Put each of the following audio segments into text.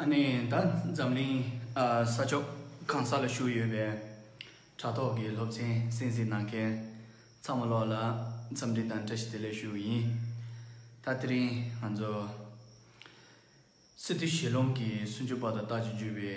ཨ་ནེ་ད་འཛམ་གླིང་ས་ཕྱོགས་གང་ས་ལ་བཞུགས་ཡོད་པའི་དྲ་ཐོག་གི་སློབ་ཚན་གསན་གཟིགས་གནང་མཁན་ཚང་མ་ལོག་ལ་འཚམས་འདྲི་དང་བཀྲ་ཤིས་བདེ་ལེགས་ཞུ་ཡིན། ད་དེ་རིང་ང་ཚོ་སི་ཏུ་ཞེ་ལུང་གི་སུན་ཅུ་པ་དང་རྟགས་ཀྱི་བརྒྱུད་པའི།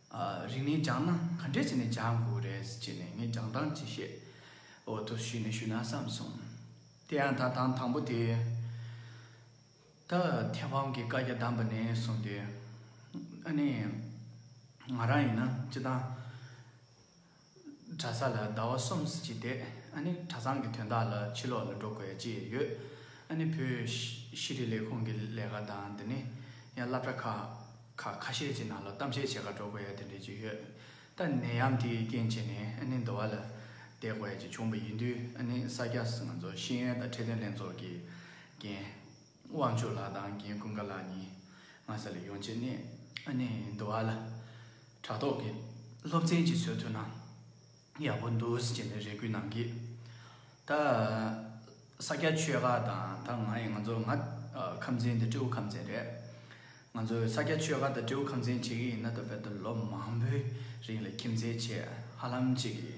རིང་ནས་སྦྱངས་ན་ག་འདྲས་བྱས་ནས་སྦྱང་དགོས་རེད་ཅེས་ནས་ངས་སྦྱང་སྟངས་ཅིག་བཤད། འོ་ཐུགས་ཞུས་ནས་ཞུས་ན་བསམ་གསུངས། དེ་ཡང་ད་དང་དང་པོ་དེ། ད་མཐེ་བོང་གི་བཀའ་རྒྱ་བསྡམས་པ་ནས་བཟུང་སྟེ། ཨ་ནི། ང་རང་ཡིན་ན་ཅི་དང། གྲྭ་ས་ལ་ཟླ་བ་གསུམ་གྱིས་བསྡད། ཨ་ནི་གྲྭ་ཚང་གི་དོན་དག་ལ་ཕྱི་ལོགས་ལ་འགྲོ་དགོས་ཅི་ཡོད། ཨ་ནི་བོད་ཤེས་རིག་ལས་ཁུངས་ཀྱི་ལས་ཀ་དང་དེ་ནི་ཡང་བསླབ་གྲྭ་ཁག་ཁ་ཤས་ཀྱི་ནང་ལ་གཏམ་བཤད་བྱེད་ཁར་འགྲོ་དགོས་ཡ་དེ་འདྲས་ཅི་ཡོད། ད་ནད་ཡམས་དེའི་རྐྱེན་བྱས་ནས་ཨ་ནི་འདོ་བ་ལ་བསྡད་དགོས་ཀྱི་བྱུང་བ་ཡིན་དུས་ཨ་ནི་ས་སྐྱ་ང་ཚོ་ཤེས་ཡོན་དང་ཁྲིད་སྟོན་ལྷན་ཚོགས་ཀྱི་འགན་དབང་ཕྱུག་ལགས་དང་རྒན་ཀུན་དགའ་ལགས་གཉིས་ངྷ་ས་ལས་ཡོང་རྗེས་གནས་ནས་འདུ་བ་ལ་དྲ་ཐོག་གི་སློབ་ཚན་གཅིག་བཟོས་ཐུབ་ན་ཡག་པོ་འདུག་ཅེས་ནས་རེ་སྐུལ་གནང་གི། ད་ས་སྐྱ་ཆོས་དགའ་དང་ད་ང་ཡིས་ང་ཚོ་ང་ཁམས་ཚན་དེ་སྤྲེའུ་ཁམས་ཚན་རེད། ང་ཚོས་ས་སྐྱ་ཆོས་དགའ་དང་སྤྲེའུ་ཁམས་ཚན་བྱེད་ཀྱི་ཡིན་ན་ད་བར་དུ་ལོ་མང་པོའི་རིང་ལ་ཁྱིམ་མཚེས་བྱས་ཧ་ལམ་གཅིག་གི།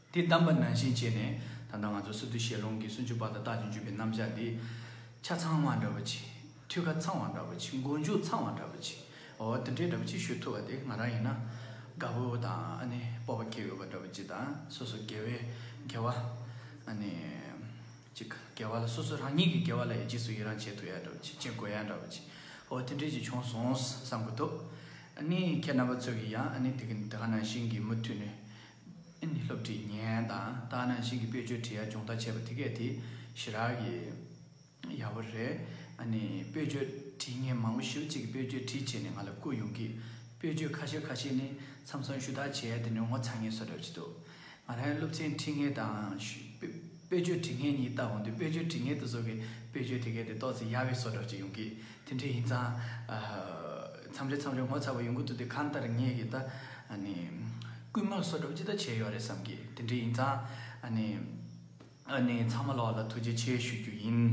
དེ་གདམས་པ་ནང་བཞིན་བྱས་ནས་ད་ལྟ་ང་ཚོ་སི་ཏུ་ཞལ་ལུང་གི་སུན་ཅུ་པ་དང་རྟགས་ཀྱི་བརྒྱུད་པའི་རྣམ་གཞག་འདི། ཆ་ཚང་བ་འདྲ་བོ་ཆེ། ཐུལ་ཁ་ཚང་བ་འདྲ་བོ་ཆེ་མགོ་མཇུག་ཚང་བ་འདྲ་བོ་ཆེ། འོ་འདི་འདྲའི་འདྲ་བོ་ཆེ་ཞུ་ཐུབ་པ་དེ་ང་རང་ཡིན་ན། དགའ་བོ་དང་ཨ་ནི་སྤོབས་པ་སྐྱེ་ཡོད་པ་འདྲ་བོ་ཅི་དང་སོ་སོ་དགེ་བའི་དགེ་བ། ཨ་ནི། ཅིག་དགེ་བ་ལ་སོ་སོ་རང་ཉིད་ཀྱི་དགེ་བ་ལ་ཡི་རྗེས་སུ་ཡི་རང་བྱེད་ཐུབ་ཡ་འདྲ་བོ་ཆེ་བྱེད་དགོས་ཡ་འདྲ་བོ་ཆེ། འོ་དེ་འདྲའི་ཅིག་བྱུང་སོང་བསམ་དགོས་ཐུབ། ཨ་ནི་ཁྱེད་རྣམ་པ་ཚོ་གིས་ཡང་ཨ་ནི་དེ་ག་ནང་བཞིན་གྱི་མུ་མཐུད་ནས་ཨིན་ཡུལ་སློབ་ཁྲིད་ཉན་དང་ལྟ་ན་ཞིང་གི་དཔེ་ཆོས་བྲིས་ཡ་སྦྱོང་ད་བྱས་པ་དེ་གས་དེ་ཞི་རག་གི་ཡག་པོ་རེད་ཨ་ནི་དཔེ་ཆོས་བྲིས་ངས་མང་པོ་ཞིབ་གཅིག་གི་དཔེ་ཆོས་བྲིས་བྱས་ནས་ང་ལ་བསྐུར་ཡོང་གིས་དཔེ་ཆོས་ཁ་ཤས་ཁ་ཤས་ནི་མཚམས་སང་ཞུ་དག་བྱས་དེ་ནས་ངོ་ཚ་ངེས་བཟོ་རེད་བྱེད་འདུག་ང་རང་ཡང་སློབ་ཚན་བྲིས་ངེས་དང་ཞུ། དཔེ་བརྗོད་དྲི་ངད་གཉིས་ལྟ་འོང་དུས་དཔེ་བརྗོད་དྲི་ངད་དུ་བཟོ་བའི་དཔེ་བརྗོད་དྲི་ངད་དེ་ཏོག་ཙེ་ཡ་བའི་སོ་དྲག་ཅིག་ཡོང་གི། དེ་འདྲ་ཡིན་ཙང། མཚམས་རེ་མཚམས་རེར་ངོ་ཚ་བ་ཡོང་གི་འདུག་དེ་གང་ལྟར་ངས་ཀྱི་ད། རྐུན་མ་སོ་སྒྲུབ་ཅི་ལྟར་བྱས་ཡོད་རེད་བསམ་གི། དེ་འདྲ་ཡིན་ཙང། ཚང་མ་ལོགས་ལ་ཐུགས་རྗེ་ཆེ་ཞུ་རྒྱུ་ཡིན།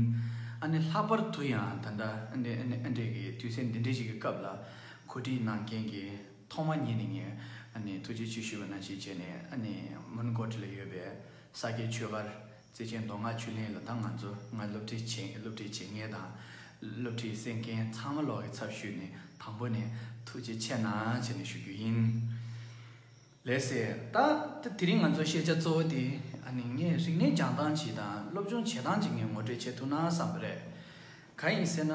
ལྷག་པར་དུ་ཡང་ད་ལྟ། ཨ་འབྲས་ཀྱི་དུས་ཚེས་འདི་འདྲ་ཞིག་གི་སྐབས་ལ། གོ་སྒྲིག་གནང་མཁན་གྱི་ཐོག་མ་ཉིད་ནས་ངས་ཐུགས་རྗེ་ཆེ་ཞུ་བ་ནང་བཞིན་བྱས་ནས། མོན་གོ་ཁྲི་ལ་ཡོད་པའི། ས་སྐྱའི་ཆོས་སྒར། བརྩེ་ཆེན་མདོ་སྔགས་ཆོས་གླིང་ལ་ད་ང་ཚོ་སྔར་སློབ་ཁྲིད་བྱེད་སློབ་ཁྲིད་བྱེད་མཁན་དང། སློབ་ཁྲིད་གསན་མཁན་ཚང་མ་ལོག་གི་ཚབ་ཞུས་ནས་དང་པོ་ནས་ཐུགས་རྗེ་ཆེ་གནང་བྱས་ནས་ཞུ་རྒྱུ་ཡིན། ལེགས་སེ། ད་དེ་རིང་ང་ཚོ་ཤེས་བྱ་གཙོ་བོ་དེ་ནི་ངས་རིག་གནས་སྦྱང་སྟངས་ཇི་དང་སློབ་སྦྱོང་བྱེད་སྟངས་ཇི་ངས་ངོ་སྤྲོད་བྱེད་ཐུབ་ན་བསམ་པ་རེད། གང་ཡིན་ཟེར་ན་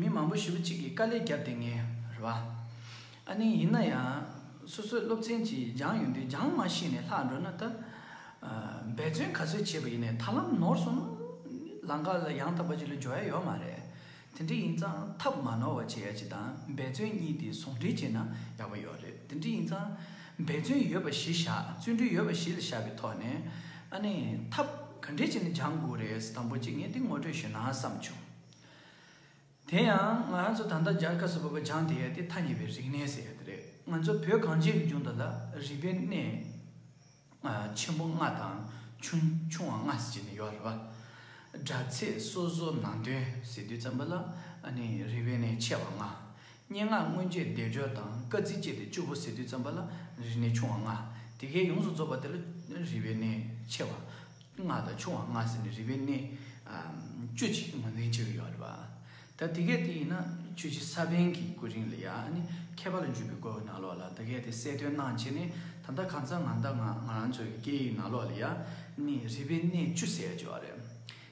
མི་མང་པོ་ཞི་བུ་གཅིག་གིས་དཀའ་ལས་བརྒྱབ་དེ་ངེས་རེད། ཨ་ནི་ཡིན་ན་ཡང་སོ་སོའི་སློབ་ཚན་གྱིས་སྦྱང་ཡོང་དུས་སྦྱང་མ་ཤེས་ནས་ལྷག་འགྲོ་ན་ད། འབད་བརྩོན་ག་ཚོད་བྱས་པ་ཡིན་ནས་ད་ལམ་ནོར་སོང་ན་ལང་ཀ་ལ་ཡང་དག་པ་ཅིག་ལ་འཇོག་ཡ་ཡོད་མ་རེད། དེ་འདྲ་ཡིན་ཙང་ཐབས་མ་ནོར་བ་བྱེད་ཡ་གཅིག་དང་འབད་བརྩོན་གཉིས་དེ་ཟུང་འབྲེལ་བྱས་ན་ཡག་པོ་ཡོད་རེད་དེ་འདྲ་ཡིན་ཙང། འབད་བརྩོན་ཡོད་པ་བཞི་བཞག་བརྩོན་འགྲུས་ཡོད་པ་བཞི་ལ་བཞག་པའི་ཐོག་ནས། ཨ་ནི། ཐབས་ག་འདྲའི་ཆེ་ན་སྦྱང་དགོས་རེད་དམ་པོ་ཅིག་ངས་འདི་ངོ་སྤྲོད་ཞུས་ན་བསམ་བྱུང། དེ་ཡང་ང་རང་ཚོ་ད་ལྟ་རྒྱ་གར་སོག་པོ་བ་སྦྱང་དེ་ཡ་དེ་ཐ་ཉེ་བའི་རིག་གནས་ཟེར་ཡ་དེ་རེད་ང་ཚོ་བོད་གངས་ཅན་གྱི་ལྗོངས་འདི་ལ་རིག་པའི་གནས་ཆེན་པོ་ལྔ་དང་ཆུང་ཆུང་བ་ལྔ་ཟེར་གྱི་ནི་ཡོད་རེད་བ། སྒྲ་ཚད་སོ་སོ་ནང་དོན་ཟེར་དུས་ཙམ་པ་ལ་ཨ་ནི་རིག་པའི་གནས་ཆེ་བ་ལྔ། སྙན་ངག་སྔོན་རྗེས་བཟླས་བརྗོད་དང་བཀའ་གཙིགས་བཅས་ཏེ་བཅུ་པོ་ཟེར་དུས་བརྩམས་པ་ལ་རིག་གནས་ཆུང་བ་ལྔ། དེ་གའི་ཡོངས་སུ་རྫོགས་པ་དེ་ལ་རིག་པའི་གནས་ཆེ་བ་ལྔ་དང་ཆུང་བ་ལྔ་ཟེར་ནས་རིག་པའི་གནས་བཅུ་གཅིག་ངོས་འཛིན་བྱེད་ཀྱི་ཡོད་རེད་པ། ད་དེ་གས་དེ་ཡིན་ན་ཆོས་རྗེ་ས་པཎ་གྱི་སྐུ་རིང་ལ་ཡང་ནི་མཁས་པ་ལ་འཇུག་པའི་སྐོར་གྱི་ནང་ལོགས་ལ་དེ་གས་དེ་གསལ་སྟོན་གནང་བྱས་ནས་ད་ལྟ་གང་ཟག་ང་ད་ང་ང་རང་ཚོའི་སྐད་ཡིག་ནང་ལོགས་ལ་ཡང་ནི་རིག་པའི་གནས་བཅུ་ཟེར་བརྗོད་པ་རེད།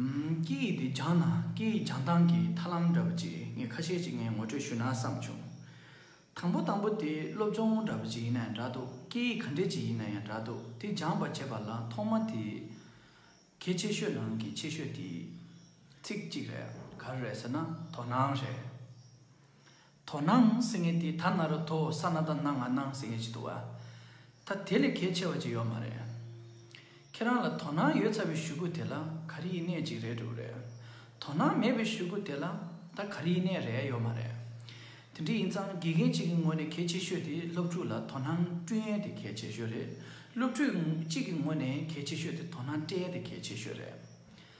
སྐད་ཡིག་དེ་སྦྱངས་ན་སྐད་ཡིག་སྦྱངས་སྟངས་ཀྱི་ཐར་ལམ་འདྲ་བོ་ཅིག་ངས་ཁ་ཤས་ཅིག་ངས་ངོ་སྤྲོད་ཞུ་ན་བསམ་བྱུང། དང་པོ་དང་པོ་དེ་སློབ་སྦྱོང་འདྲ་བོ་ཅིག་ཡིན་ན་ཡང་འདྲ་འདུག་སྐད་ཡིག་ག་འདྲེ་ཅིག་ཡིན་ན་ཡང་འདྲ་འདུག་དེ་སྦྱངས་པར་བྱེད་པ་ལ་ཐོག་མ་དེ་གལ་ཆེ་ཤོས་ནང་གི་ཆེ་ཤོས་དེ། ཚིག་གཅིག་རེད་ག་རེ་རེད་ཟེར་ན་དོ་སྣང་རེད། དོ་སྣང་ཟེར་ངེས་དེ་ད་ན་རུ་དོ་ས་ན་ད་ན་ང་སྣང་ཟེར་ངེས་ཅི་འདུག་བ། ད་དེ་ལས་གལ་ཆེ་བ་ཅིག་ཡོད་མ་རེད། ཁྱེད་རང་ལ་དོ་སྣང་ཡོད་ཚ་བའི་ཞུ་གུ་དེ་ལ་ག་རེ་ཡིན་གནས་ཅིག་རེད་འདུག་རེད། དོ་སྣང་མེད་པའི་ཞུ་གུ་དེ་ལ་ད་ག་རེ་ཡིན་གནས་རེད་ཡོད་མ་རེད། དེ་འདྲ་ཡིན་ཙང་དགེ་རྒན་ཅིག་གི་ངོས་ནས་གལ་ཆེ་ཤོས་དེ་སློབ་ཕྲུག་ལ་དོ་སྣང་སྤྲུལ་ཡན་དེ་གལ་ཆེ་ཤོས་རེད་སློབ་ཕྲུག་ཅིག་གི་ངོས་ནས་གལ་ཆེ་ཤོས་དེ་དོ་སྣང་སྤྲད་ཡན་དེ་གལ་ཆེ་ཤོས་རེད།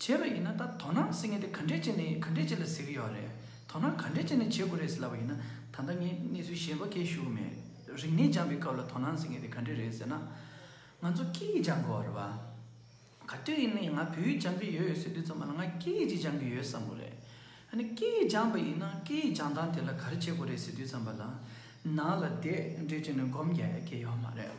བྱས་པ་ཡིན་ན་ད་དོ་སྣང་ཟེར་ངེས་དེ་ག་འདྲས་ཅན་ནས་ག་འདྲས་ཅན་ལ་ཟེར་གྱི་ཡོད་རེད། དོ་སྣང་ག་འདྲས་ཅན་ནས་བྱེད་དགོས་རེད་ཟེར་ལབ་པ་ཡིན་ན་ད་ལྟ་ངས་གནས་ཚུལ་གཞན་པ་ཁས་ཞུ་གི་མེད། རིག་གནས་སྦྱངས་པའི་སྐབས་ལ་དོ་སྣང་ཟེར་ངེས་དེ་ག་འདྲས་རེད་ཟེར་ན། ང་ཚོ་སྐད་ཡིག་སྦྱང་དགོས་བ་རེད་བ། ག་དུས་ཡིན་ན་ཡང་ང་བོད་ཡིག་སྦྱང་གི་ཡོད་ཡོད་ཟེར་དུས་ཚང་མ་ལ་ང་སྐད་ཡིག་ཅིག་སྦྱང་གི་ཡོད་བསམ་གོ་རེད། ཨ་ནི་སྐད་ཡིག་སྦྱངས་པ་ཡིན་ན་སྐད་ཡིག་སྦྱང་སྟངས་དེ་ལ་ག་རེ་བྱེད་དགོས་རེད་ཟེར་དུས་ཚང་མ་ལ་ནང་ལ་དེ་འདྲས་ཅན་ནས་སྒོམ་རྒྱག་ཡ་གི་ཡོད་མ་རེད།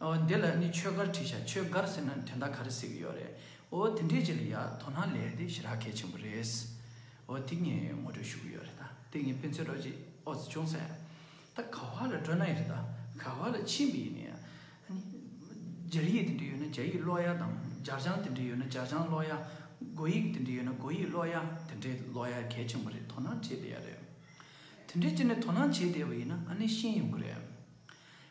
ཨོ་དེ་ལ་ནི་ཆོས་སྒར་བྲིས་ཤག་ཆོས་སྒར་ཟེར་ན་དེ་འདྲ་ག་རེ་ཟེར་གི་ཡོད་རེད་ཨོ་དེ་འདྲའི་རྗེས་ལ་ཡ་དོ་སྣང་ལས་དེ་ཞེ་དྲག་གལ་ཆེན་པོ་རེད། ཨོ་དེ་ངས་ངོ་སྤྲོད་ཞུ་གི་ཡོད་རེད་ད་དེ་ངས་ཕན་ཚུན་རོགས་བྱེད་ཨོ་ཙི་ཅུང་ཟད་ད་ག་བ་ལ་སྤྲོད་ན་ཡིན་རེད་ད་ག་བ་ལ་ཕྱིན་གི་ཡིན་ཡ་ནི་རྒྱ་ཡིག་དེ་འདྲ་ཡོད་ན་རྒྱ་ཡིག་ཀློག་ཡ་དང་འཇར་ལྗང་དེ་འདྲ་ཡོད་ན་འཇར་ལྗང་ཀློག་ཡ་སྒོ་ཡིག་དེ་འདྲ་ཡོད་ན་སྒོ་ཡིག་ཀློག་ཡ་དེ་འདྲ་ཀློག་ཡ་གལ་ཆེན་པོ་རེད་དོ་སྣང་བྱེད་བསྡད་ཡ་རེད། དེ་འདྲའི་རྗེས་ནས་དོ་སྣང་བྱེད་བསྡད་པ་ཡིན་ན་ཨ་ནི་ཤེས་ཡོང་གི་རེད།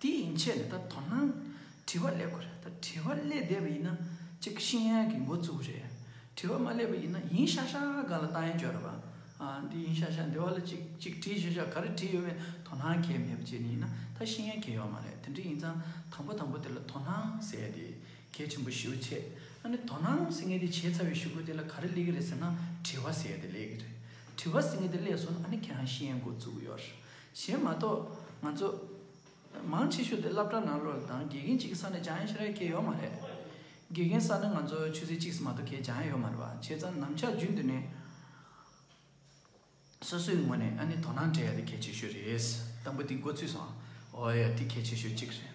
དེ་ཡིན་ཆད་ནས་ད་དོ་སྣང་དྲི་བ་སླེབས་གོ་རེད་ད་དྲི་བ་སླེ་བསྡད་པ་ཡིན་ན་ཅིག་ཤི་ཡན་གི་འགོ་བཙུགས་རེད་དྲི་བ་མ་སླེ་བ་ཡིན་ན་ཡིན་ཤག་ཤག་ག་ལ་བཏང་ཡན་བཅོ་ར་བ་ཨ་འདི་ཡིན་ཤག་ཤག་འདི་བ་ལ་ཅིག་ཅིག་དྲི་ཤག་ཤག་ག་རེ་དྲི་ཡོད་མེད་དོ་སྣང་གས་མེད་པ་ཅིག་ཡིན་ན་ད་ཤི་ཡན་གས་ཡོག་མ་རེད་དེ་འདྲ་ཡིན་ཙང་དང་པོ་དང་པོ་དེ་ལ་དོ་སྣང་ཟེ་དེ་གས་ཆེན་པོ་ཞུ་ཆད་ཨ་ནི་དོ་སྣང་ཟེ་ངས་དེ་བྱས་ཚར་བའི་ཞུ་གོ་དེ་ལ་ག་རེ་སླེ་གི་རེད་ཟེ་ན་དྲི་བ་ཟེ་དེ་སླེ་གི་རེད་དྲི་བ་ཟེ་ངས་དེ་སླེ་སོང་ན་ཨ་ནི་གས་ཧང་ཤི་ཡན་འགོ་བཙུགས་ཡོག་རེད་གཞན་མ་གཏོགས་ང་ཚོ། མང་ཆེ་ཤོས་དེ་བླ་བྲང་ནང་ལོགས་དང་དགེ་རྒན་གཅིག་གི་ས་ནས་ཅང་ཡང་ཤེས་ར་སྐྱེས་ཡོད་མ་རེད། དགེ་རྒན་ས་ནི་ང་ཚོ་ཆོས་སྲིད་གཅིག་སུ་མ་གཏོགས་ཁྱད་ཅང་ཡང་ཡོད་མ་རེད་བ་བྱས་ཙང་ནམ་ཆགས་རྒྱུན་དུ་ནས། སོ་སོའི་ངོས་ནས་ཨ་ནི་དོ་སྣང་བྱེད་ཡ་དེ་གལ་ཆེ་ཤོས་རེད། དང་པོ་དེ་འགོ་ཚུགས་སོང། འོ་ཡ་དེ་གལ་ཆེ་ཤོས་གཅིག་རེད།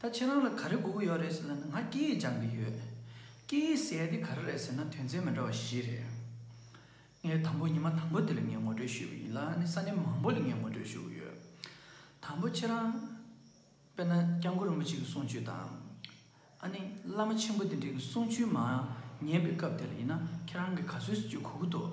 ད་ཁྱེད་རང་ལ་ག་རེ་སྒུག་གི་ཡོད་རེད་ཟེར་ན་ནི་ང་སྐད་ཡིག་སྦྱང་གི་ཡོད། སྐད་ཡིག་གསལ་ཏེ་ག་རེ་རེད་ཟེར་ན་དོན་ཚན་མི་འདྲ་བ་བཞི་རེད། ངའི་དང་པོ་ཉི་མ་དང་པོ་དེ་ལ་ངས་ངོ་སྤྲོད་ཞུས་པ་ཡིན་ལ་ནི་ས་གནས་མང་པོ་ལ་ངས་ངོ་སྤྲོད་ཞུ་གི་ཡོད། དང་པོ་ཁྱེད་རང། དཔེར་ན་སྐྱབས་མགོན་རིན་པོ་ཆེ་གི་གསུང་ཆོས་དང། ཨ་ནི་བླ་མ་ཆེན་པོ་དེ་འདྲའི་གི་གསུང་ཆོས་མ་ཉན་པའི་སྐབས་དེ་ལ་ཡིན་ན་ཁྱེད་རང་གིས་ག་ཚོད་ཞིག་བརྗོད་ཁུག་གི་འདུག།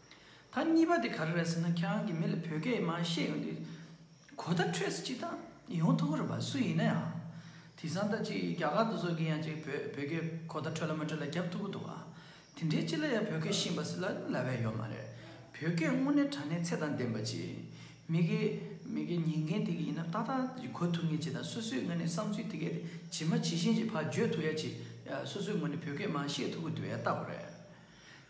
ད་གཉིས་པ་དེ་ག་རེ་རེད་ཟེར་ན་ཁྱེད་རང་གི་མི་ལ་བོད་སྐད་མ་ཤེས་ཡོང་དུས་གོ་བརྡ་འཕྲོད་ཟེར་ཅི་ད་ཡོང་ཐུག་གི་རེད་བ་སུ་ཡིན་ན་ཡང་དེ་བཟང་ད་ཅིག་རྒྱ་གར་དུ་ཚོགས་ཀྱི་ཡང་ཅིག་བོད་བོད་སྐད་གོ་བརྡ་འཕྲོད་ལ་མ་འཕྲོད་ལ་རྒྱབ་ཐུག་གི་འདུག་ག་དེ་འདྲའི་སྤྱི་ལ་ཡང་བོད་སྐད་ཤེས་འབའ་སི་ལ་ལ་བས་ཡོད་མ་རེད་བོད་སྐད་དངོས་གནས་དྲ་གནས་ཚད་དང་ལྡན་པ་ཅིག་མི་གི་མི་གི་ཉན་མཁན་དེ་གི་ཡིན་ན་ཏག་ཏག་ཅིག་གོ་ཐུག་ངེས་ཅིག་ད་སོ་སོའི་ངོས་ནས་བསམ་ཚུལ་དེ་གས་དེ་ཇི་མ་ཇི་བཞིན་ཅིག་ཕ་བརྗོད་ཐུག་ཡ་ཅིག་སོ་སོའི་ངོས་ནས་བོད་སྐད་མ་ཤེས་ཐུག་གི་འདུག་ཡ་ལྟ་བུ་རེད།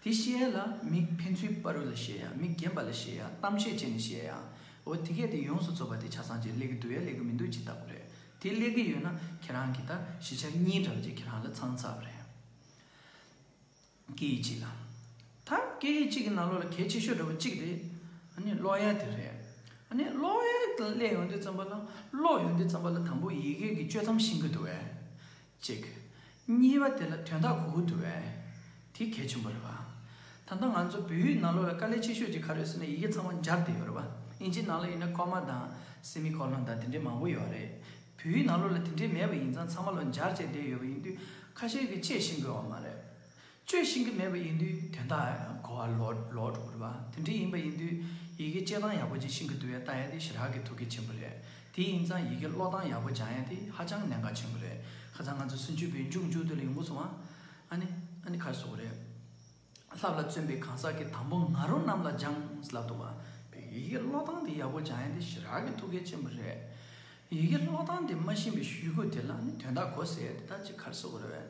དེ་བཤད་ལ་མིག་ཕན་ཚུན་སྤ་རུ་ལ་བཤད་ཡ་མིག་རྒན་པ་ལ་བཤད་ཡ་གཏམ་བཤད་བྱེད་ནས་བཤད་ཡ་འོ་དེ་གས་དེ་ཡོངས་སུ་རྫོགས་པ་དེ་ཆ་ཚང་ཅིག་ལེགས་གི་འདུག་ཡ་ལེགས་གི་མི་འདུག་ཅིག་ལྟ་བུ་རེད་དེ་ལེགས་གི་ཡོད་ན་ཁྱེད་རང་གིས་ད་བཞི་ཆ་གཉིས་འདྲ་བ་ཅིག་ཁྱེད་རང་ལ་ཚང་ཚར་བ་རེད། སྐད་ཡིག་གཅིག་ལ། ད་སྐད་ཡིག་གཅིག་གི་ནང་ལོགས་ལ་གལ་ཆེ་ཤོས་འདྲ་བ་གཅིག་དེ་ཨ་ནི་ཀློག་ཡ་དེ་རེད། ཨ་ནི་ཀློག་ཡ་དང་ཀླད་ཡོང་དུས་ཙམ་པ་ལ་ཀློག་ཡོང་དུས་ཙམ་པ་ལ་དང་པོ་ཡི་གེ་གི་གཅོད་མཚམས་ཤིན་གི་འདུག་བས། ཅིག། གཉིས་པ་དེ་ལ་དོན་དག་གུ་གུ་དུ་བས། དེ་གལ་ཆེན་པོ་རེད་བ། ད་ལྟ་ང་ཚོ་བོད་ཡིག་ནང་ལོ་ལ་དཀའ་ལས་ཆེ་ཤོས་ཀྱི་ཁ་རས་ཟེར་ན་ཡི་གེ་ཚང་མ་འབྱར་དེ་ཡོད་རེད་བ། ཨིན་ཇིའི་ནང་ལ་ཡིན་ན་ཀོ་མ་དང། སི་མི་ཁོ་ལོན་དང་དེ་འདྲའི་མང་པོ་ཡོད་རེད། བོད་ཡིག་ནང་ལོ་ལ་དེ་འདྲའི་མེད་པ་ཡིན་ཙང་ཚང་མ་ལོ་འབྱར་བྱས་བསྡད་ཡོད་པ་ཡིན་དུས་ཁ་ཤས་ཀྱིས་དཔྱད་ཤེས་དགོས་བ་མ་རེད། སྤྱོད་ཤེས་ཀྱི་མེད་པ་ཡིན་དུས་དོན་དག་གོ་བ་ལོག་འགྲོ་གི་རེད་པ་དེ་འདྲ་ཡིན་པ་ཡིན་དུས་ཡི་གེ་སྤྱད་སྟངས་ཡག་པོ་ཅིག་ཤིང་གི་དུ་བས་བཏགས་ཡ་དེ་ཞི་རགས་ཀྱི་ཐུགས་ཀྱི་ཆེན་པོ་རེད་དེ་ཡིན་ཙང་ཡི་གེ་ཀློག་སྟངས་ཡག་པོ་སྦྱང་ཡ་དེ་ཧ་ཅང་གནད་འགག་ཆེན་པོ་རེད་ཁ་ཚང་ང་ཚོ་སུན་ཆུ་བོའི་མཇུག་མཇུག་དུ་ལ་ཡོང་གི་སོང་བ་ཨ་ནི་ཨ་ནི་ཁ་བཟོ་གི་རེད་ལྷ་བླ་བཙུན་པའི་གང་ཟག་གི་དང་པོ་ང་རོ་རྣམས་ལ་སྦྱངས་ལབ་འདུག་བ་བས་ཡི་གེ་ཀློག་སྟངས་དེ་ཡག་པོ་སྦྱང་ཡ་དེ་ཞི་རགས་ཀྱི་ཐུགས་ཀའི་ཆེན་པོ་རེད་ཡི་གེ་ཀློག་སྟངས་དེ་མ་ཤེས་པའི་ཞུས་གོ་དེ་ལ་ནི་དོན་དག་གོ་ཟེར་དེ་དག་ཅིག་ཁར་བཟོ་གི་རེད་བས།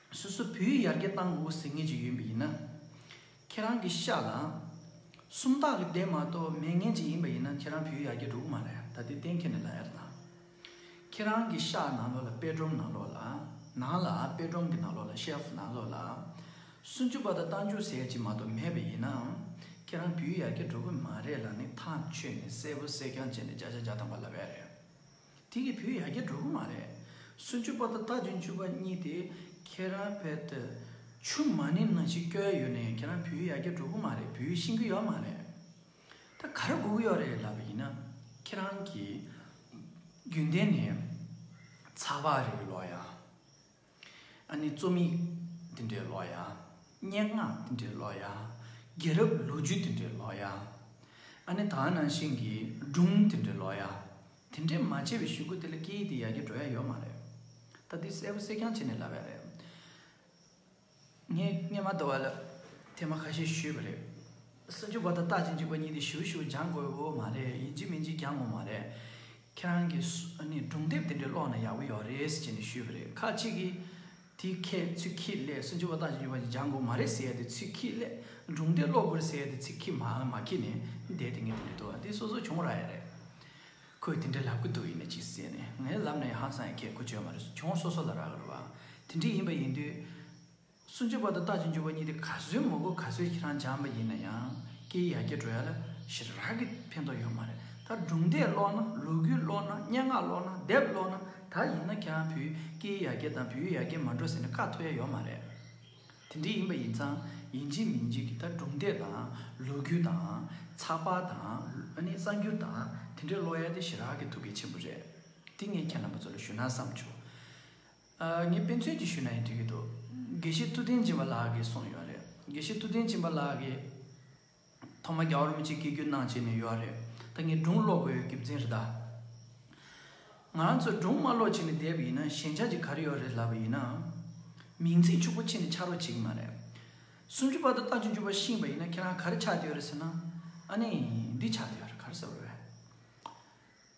སོ་སོ་བུའི་ཡར་རྒྱས་བཏང་དགོས་ཟེར་ངེས་ཅིག་ཡོད་འི་ཡིན་ན། ཁྱེད་རང་གི་ཤ་ལ། སུམ་རྟགས་ཀྱི་ལྡན་མ་གཏོགས་མེད་ངེས་ཅིག་ཡིན་པ་ཡིན་ན་ཁྱེད་རང་བུའི་ཡར་རྒྱས་འགྲོ་གི་མ་རེད་ད་དེ་གཏན་འཁེལ་ནས་ལ་ཡར་བཏང། ཁྱེད་རང་གི་ཤ་ནང་ལོགས་ལ་དཔེ་སྒྲོམ་ནང་ལོགས་ལ། ནང་ལ་དཔེ་སྒྲོམ་གྱི་ནང་ལོགས་ལ shelf ནང་ལོགས་ལ། སུན་ཅུ་པ་དང་རྟ་མཇུག་ཟེར་ཅིག་མ་གཏོགས་མེད་པ་ཡིན་ནའང། ཁྱེད་རང་བུའི་ཡར་རྒྱས་འགྲོ་གི་མ་རེད་ལ་ནི་ཐག་ཆོད་ནས་གསལ་པོ་གསལ་རྐྱང་བྱས་ནས་བརྒྱ་ཆ་བརྒྱ་བཏང་བ་ལ་བས་རེད། དེ་གི་བུ་ཡ་རྒྱ་འགྲོ་གི་མ་རེད། སུན་ཅུ་པ་དང་རྟ་བྱིན་ཅུ་པ་གཉིས་དེ་ཁྱེད་རང་བལ་ཏུ་ཆུ་མ་ནི་ནང་བཞིན་བསྐྱོལ་ཡོད་ནས་ཁྱེད་རང་བུ་ཡ་རྒྱ་འགྲོ་གི་མ་རེད་བུ་ཤིང་གི་ཡོད་མ་རེད། ད་ག་རེ་སྒུག་གི་ཡོད་རེད་ལབ་པ་ཡིན་ན་ཁྱེད་རང་གི་རྒྱུན་ལྡན་ནས་ཚགས་པར་རེ་ལོ་ཡ། ཨ་ནི་རྩོམ་ཡིག་འདི་འདྲའི་ལོ་ཡ། སྙན་ངག་འདི་འདྲའི་ལོ་ཡ། རྒྱལ་རབས་ལོ་རྒྱུས་འདི་འདྲའི་ལོ་ཡ། ཨ་ནི་དག་སྣང་ཤིང་གི་སྒྲུང་འདི་འདྲའི་ལོ་ཡ། དེ་འདྲའི་མ་བྱས་པའི་ཤུལ་ཀུ་དེ་ལ་སྐད་ཡིག་འདི་ཡར་རྒྱས་འགྲོ་ཡ་ཡོད་མ་རེད། ད་འདི་གསལ་པོ་གསལ་རྐྱང་བྱས་ནས་ལབ་ཡ་རེད། ངས་སྙན་མ་དོ་བ་ལ་ཐེངས་མ་ཁ་ཤས་ཞུས་པ་རེད། སུ་འཇུག་པ་དང་རྟགས་ཅན་འཇུག་པ་གཉིས་དེ་ཞུ་ཞུ་སྦྱང་དགོས་བོ་མ་རེད་ཡིན་གཅིག་མིན་གཅིག་སྦྱང་ངོ་མ་རེད། ཁྱེད་རང་གི་སྒྲུང་དེབ་དེ་འདྲ་ཀློག་ན་ཡག་པོ་ཡོད་རེད་ཟེར་ནས་ཞུས་པ་རེད་ཁ་ཅིག་གིས། དེ་ཁྱེད་ཚུལ་ཁྱིས་ལས་སུ་འཇུག་པ་རྟགས་ཅན་འཇུག་པ་གཉིས་སྦྱང་དགོས་མ་རེད་ཟེར་ཏེ་ཚུལ་ཁྱིས་ལས་སྒྲུང་དེབ་ཀློག་དགོས་རེད་ཟེར་ཏེ་ཚིག་ཁྱི་མ་ཁྱི་ནས་བསྡད་དེ་ངས་དེ་འདྲའི་དོ་བ་འདི་སོ་སོ་བྱུང་ར་ཡ་རེད། ཁོས་དེ་འདྲ་ལབ་ཀི་འདུག་ཡིན་ནས་ཅིག་ཟེར་ནས་ངའི་ལབ་ན་ཡང་ཧང་སང་ཡང་ཁྱད་གོ་ཆོད་མ་རེད་གྱོང་སོ་སོ་ལ་རག་རེད་བ། དེ་འདྲ་ཡིན་པ་ཡིན་དུས། སུན་ཅུ་པ་དང་རྟ་ཅི་འཇུ་བ་གཉིས་དེ་ག་ཚོད་མོ་གོ་ག་ཚོད་ཁྱེད་རང་སྦྱངས་པ་ཡིན་ན་ཡང་སྐྱེ་ཡ་སྐྱེ་འགྲོ་ཡ་ལ་ཞེ་རག་གི་ཕན་ཐོག་ཡོད་མ་རེད་ད་སྒྲུང་དེ་ཀློག་ན་ལོ་རྒྱུས་ཀློག་ན་སྙན་ངག་ཀློག་ན་དེབ་ཀློག་ན་ད་ཡིན་ན་ཁྱེད་རང་བུ་སྐྱེ་ཡ་སྐྱེ་དང་བུ་ཡ་སྐྱེ་མ་འགྲོ་ཟེར་ནས་བཀའ་ཐོ་ཡ་ཡོད་མ་རེད། དེ་འདྲ་ཡིན་པ་ཡིན་ཙང་ཡིན་འཇིག་མིན་འཇིག་གི་ད་གྲུབ་འབྲས་དང་ལོ་རྒྱུས་དང། ཚགས་པར་དང། གསར་འགྱུར་དང་དེ་འདྲའི་ཀློག་ཡ་དེ་ཞི་རག་གི་ཐུགས་གལ་ཆེན་པོ་རེད། དེ་ངས་ཁྱེད་རྣམ་པ་ཚོ་ལ་ཞུ་ན་བསམ་བྱུང། ངས་དཔེ་མཚོན་གྱིས་ཞུས་ན་ཡང་འགྲིག་གི་འདུག་དགེ་བཤེས་ཐུབ་བསྟན་སྦྱིན་པ་ལགས་ཀྱིས་གསུངས་ཡོད་རེད། དགེ་བཤེས་ཐུབ་བསྟན་སྦྱིན་པ་ལགས་ཀྱིས། ཐོག་མ་རྒྱ་བོར་མི་བྱེད་ཀི་རྒྱུ་སྣང་བྱེད་ནས་ཡོད་ར་རེད་ད་ངས་སྒྲུང་ཀློག་དགོས་ཡོད་གི་འཛིན་རེད་ད། ང་རང་ཚོས་སྒྲུང་མ་ཀློག་བྱེད་ནས་བསྡད་པ་ཡིན་ན་ཞེན་ཆགས་ཀྱི་ག་རེ་ཡོད་རེད་ལབ་པ་ཡིན་ན། མིང་ཚིག་ཕྱུག་པོ་ཕྱེ་ནས་ཆགས་རོགས་བྱེད་ཀི་མ་རེད། སུམ་ཅུ་པ་དང་རྟགས་བཅུ་བཅུ་པ་ཤིང་པ་ཡིན་ན་ཁྱེད་རང་ག་རེ་ཆགས་ཀྱི་ཡོད་རེད་ཟེར་ན། ཨ་ནི། འདི་ཆགས་ཀྱི་ཡོད་རེད་ག་རེ་ཟེར་བ་རེད།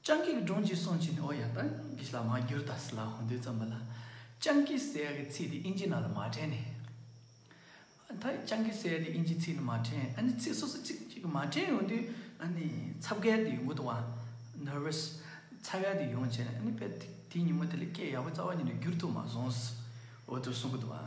སྤྱང་ཀིས་སྒྲུང་གཅིག་གསུང་བྱས་ནས་ཨོ་ཡ་ཏཱ་གིས་ལ་མ་བསྒྱུར་ད་སི་ལ་ཧོན་ཏོའི་རྩོམ་པ་ལ་སྤྱང་ཀི་ཟེར་ཡ་གི་ཚིག་དེ་དབྱིན་ཇི་ནང་ལ་མ་བྲན་ནས། ཨ་ད་སྤྱང་ཀི་ཟེར་ཡ་དེ་དབྱིན་ཇི་ཚིག་ནང་མ་བྲན་ཨ་ནི་ཚིག་སོ་སོ་ཚིག་གཅིག་མ་བྲན་ཡོང་དུས་ཨ་ནི་ཚབ་གལ་ཏེ་ཡོང་གི་འདུག་བ། Nervous། ཚ་གལ་ཏེ་ཡོང་བྱས་ནས་ཨ་ནི་དཔེ་དེ་ཉིན་མོ་དེ་ལས་སྐད་ཡག་པོ་རྩ་བ་ཉིད་ནས་བསྒྱུར་ཐུབ་མ་སོང་ཟིའོ་ཏུར་གསུང་གི་འདུག་བ།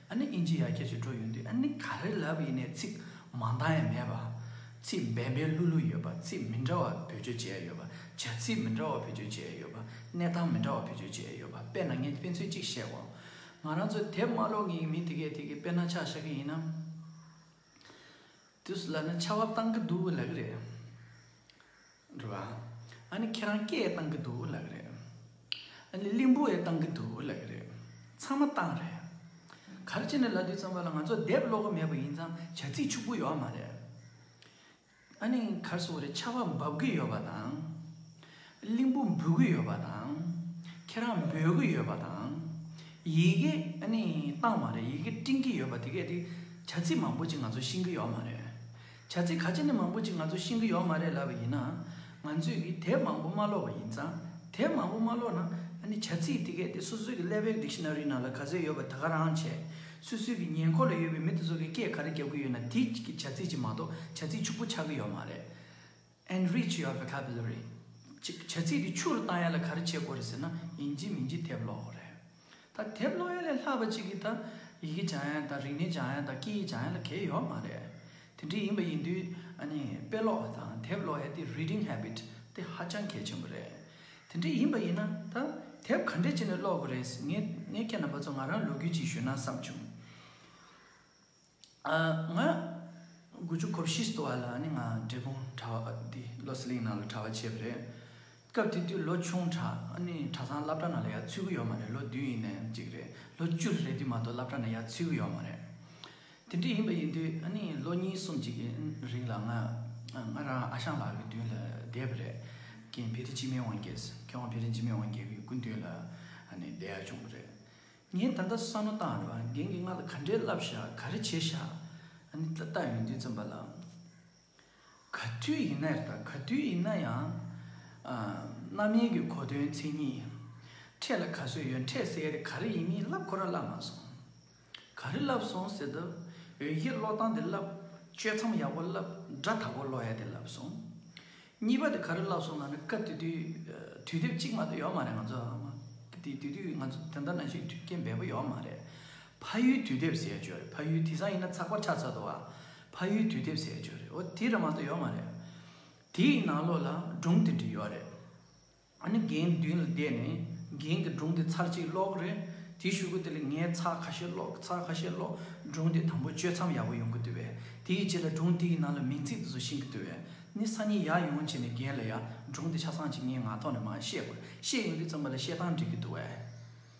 ཨ་ནི་ཨིན་ཇི་ཡར་ཁྱེར་ཞིག་འགྲོ་ཡོང་དུས་ཨ་ནི་ག་རེ་ལབ་ཡིན་ནའི་ཚིག་མ་འདང་ཡ་མེད་པ། ཚིག་འབེན་འབེན་ལྷུག་ལྷུག་ཡོད་པ་ཚིག་མི་འདྲ་བ་བེད་སྤྱོད་བྱས་ཡོད་པ། བྱ་ཚིག་མི་འདྲ་བ་བེད་སྤྱོད་བྱས་ཡོད་པ། གནས་སྟངས་མི་འདྲ་བ་བེད་སྤྱོད་བྱས་ཡོད་པ་དཔེ་ན་ངས་དཔེ་མཚོན་གཅིག་བཤད་གོ། ང་རང་ཚོའི་དེབ་དམར་ལོག་ངེས་ངེས་མིན་དེ་གས་དེ་གས་དཔེར་ན་ཆག་ཤ་གི་ཡིན་ནམ། དུས་སུ་ལབ་ན་ཆར་བ་བཏང་གི་འདུག་ལབ་ཀྱི་རེད། རེད་བ། ཨ་ནི་ཁྱེད་རང་སྐད་ཡེ་བཏང་གི་འདུག་ལབ་ཀྱི་རེད། ཨ་ནི་གླིང་བུ་ཡེ་བཏང་གི་འདུག་ལབ་ཀྱི་རེད། ཚང་མ་བཏང་རེད། གར་སྤྱི་ནས་ལབ་དུས་ཚང་མ་ལ་ང་ཚོ་དེབ་ཀློག་གི་མེད་པ་ཡིན་ཙང་བྱ་ཚིག་ཕྱུག་པོ་ཡོད་མ་རེད། ཨ་ནི་གར་སོང་རེད་ཆར་བ་འབབ་གི་ཡོད་པ་དང། གླིང་བུ་འབུད་གི་ཡོད་པ་དང། ཁྱེད་རང་འབོད་གི་ཡོད་པ་དང། ཡི་གེ་ཨ་ནི་བཏང་བ་རེད་ཡི་གེ་སྤྲིངས་ཀྱི་ཡོད་པ་དེ་གས་དེ་བྱ་ཚིག་མང་པོ་ཅིག་ང་ཚོ་ཤེས་ཀྱི་ཡོད་མ་རེད། བྱ་ཚིག་ག་ཅི་ནས་མང་པོ་ཅིག་ང་ཚོ་ཤེས་ཀྱི་ཡོད་མ་རེད་ལབ་པ་ཡིན་ན། ང་ཚོས་ཀྱིས་དེབ་མང་པོ་མ་ཀློག་པ་ཡིན་ཙང་དེབ་མང་པོ་མ་ཀློག་ན་ཨ་ནི་བྱ་ཚིག་དེ་གས་དེ་སོ་སོའི་ཀྱི་ཀླད་པའི Dictionary ནང་ལ་ག་ཚོད་ཡོད་པ་དེ་ག་རང་བྱས། སོ་སོའི་ཀྱི་ཉེ་འཁོར་ལ་ཡོད་པའི་མི་དེ་ཚོ་གས་སྐད་ག་རེ་རྒྱབ་ཀྱི་ཡོད་ན་དེའི་ཀྱི་བྱ་ཚིག་ཅིག་མ་གཏོགས་བྱ་ཚིག་ཕྱུག་པོ་ཆགས་ཀྱི་ཡོད་མ་རེད། Enrich your vocabulary། བྱ་ཚིག་དེ་ཕྱུག་རུ་བཏང་ཡ་ལ་ག་རེ་བྱེད་དགོས་རེད་ཟེར་ན་ཡིན་གྱི་མིན་གྱི་དེབ་ཀློག་རེད། ད་དེབ་ཀློག་ཡོད་ལས་ལྷག་པ་ཅིག་གིས་ད་ཡི་གེ་བྱང་ཡན་དང་རིག་གནས་བྱང་ཡན་དང་སྐད་ཡིག་བྱང་ཡན་ལ་གལ་ཡོད་མ་རེད། དེ་འདྲ་ཡིན་པ་ཡིན་དུས་ཨ་ནི་དཔེ་ཀློག་དང་དེབ་ཀློག་ཡ་དེ Reading Habit དེ་ཧ་ཅང་གལ་ཆེན་པོ་རེད། དེ་འདྲ་ཡིན་པ་ཡིན་ན་ད་དེབ་ག་འདྲས་བྱས་ནས་ཀློག་དགོས་རེད། ངས་ཁྱེད་རྣམ་པ་ཚོ་ང་རང་ལོ་རྒྱུས་ཅིག་ཞུས་ན་བསམ་བྱུང། ང་དགུ་བཅུ་གོ་བཞི་སྟུ་བ་ལ་ནི་ང་འབྲས་སྤུངས་གྲྭ་བ་འདི་བློ་ཟི་ལིང་ནང་ལ་གྲྭ་བ་བྱས་པ་རེད། སྐབས་དེ་དུས་ལོ་ཆུང་གྲྭ་ཨ་ནི་གྲྭ་ཚང་བླ་བྲ་ནང་ལ་ཡ་ཚུད་གི་ཡོད་མ་རེད་ལོ་བདུན་ཡིན་ནའི་གཅིག་རེད་ལོ་བཅུ་རེ་རེད་དུས་མ་གཏོགས་བླ་བྲ་ནང་ཡ་ཚུད་གི་ཡོད་མ་རེད། དེ་འདྲ་ཡིན་པ་ཡིན་དུས་ཨ་ནི་ལོ་གཉིས་གསུམ་གཅིག་གི་རིང་ལ་ང་ང་རང་ཨ་ཞང་ལགས་ཀྱི་མདུན་ལ་བསྡད་པ་རེད། ཀྱེ་བེ་རི་སྤྱི་མེས་དབང་རྒྱལ་ཟེར་ཁྱེད་དབང་བེ་རི་སྤྱི་མེས་དབང་རྒྱལ་གྱི་སྐུ་མདུན་ལ་ཨ་ནི་བསྡད་ཡ་བྱུང་བ་རེད། ངས་ད་ལྟ་བསམ་བློ་བཏང་རེད་བ་རྒན་གྱིས་ང་ལ་ག་འདྲའི་བསླབ་བྱ་ག་རེ་བྱེད་བཞག་ཨ་ནི་ཏག་ཏག་ཡོང་དུས་བཙུན་པ་ལགས། ག་དུས་ཡིན་ན་རེད་ད་ག་དུས་ཡིན་ན་ཡང། རྣམ་གཡེང་གི་གོ་དོན་མཚན་ཉིད། འཕྲད་ལ་ག་ཚོད་ཡོད་འཕྲད་གསལ་རེད་ག་རེ་ཡིན་མིན་བསླབ་ཁོ་ར་བསླབ་མ་སོང། ག་རེ་བསླབ་སོང་ཟེར་དུས་འོན་ཤེས་བློ་བཏང་དེ་བསླབ། གཅོད་མཚམས་ཡག་པོ་བསླབ་སྒྲ་དག་པོ་ཀློག་ཡ་དེ་བསླབ་སོང། གཉིས་པ་དེ་ག་རེ་ལབ་སོང་ང་ནི་སྐབས་དེ་དུས་དུས་དེབ་གཅིག་མ་གཏོགས་ཡོད་མ་རེད་ང་ཚོ་དེ་དུས་དུས་དུས་ང་ཚོ་དེ་འདྲ་ན་ཞིག་དུས་སྐྱེལ་འབེལ་པོ་ཡོད་མ་རེད། ཕ་ཡུལ་དུས་དེབ་ཟེར་བྱོས་རེད་ཕ་ཡུལ་དེ་སང་ཡིན་ན་ཚགས་པར་ཆགས་ཚར་འདུག་ཨ། ཕ་ཡུལ་དུས་དེབ་ཟེར་བྱོས་རེད་འོ་དེ་རེད་མ་གཏོགས་ཡོད་མ་རེད། དེའི་ནང་ལོགས་ལ་སྒྲུང་དེ་འདྲ་ཡོད་རེད། ཨ་ནི་རྒན་མདུན་ལ་བསྡད་ནས་རྒན་གྱི་སྒྲུང་དེ་ཚར་གཅིག་ཀློག་རེད་དེ་བཞུགས་གོ་དེ་ལ་ངས་ཚར་ཁ་ཤས་ཀློག་ཚར་ཁ་ཤས་ཀློག་སྒྲུང་དེ་དང་པོ་བཅོས་མཚམས་ཡག་པོ་ཡོང་གི་འདུག་བས་དེ་ཡི་རྗེས་ལ་སྒྲུང་དེ་ཡི་ནང་ལ་མིང་ཚིག་དེ་ཚོ་ཤིང་གི་འདུག་བས་ནི་ས་ནི་ཡག་ཡོང་བྱས་ནས་རྒན་ལ་ཡག་སྒྲུང་དེ་ཆ་ཚང་ཅིག་ངས་ངག་ཐོག་ནས་མ་བཤད་དགོས་ཤེས་ཡོང་དུས་རྩོམ་པ་ལ་བཤད་སྟངས་འགྲིག་གི་འདུག་བས།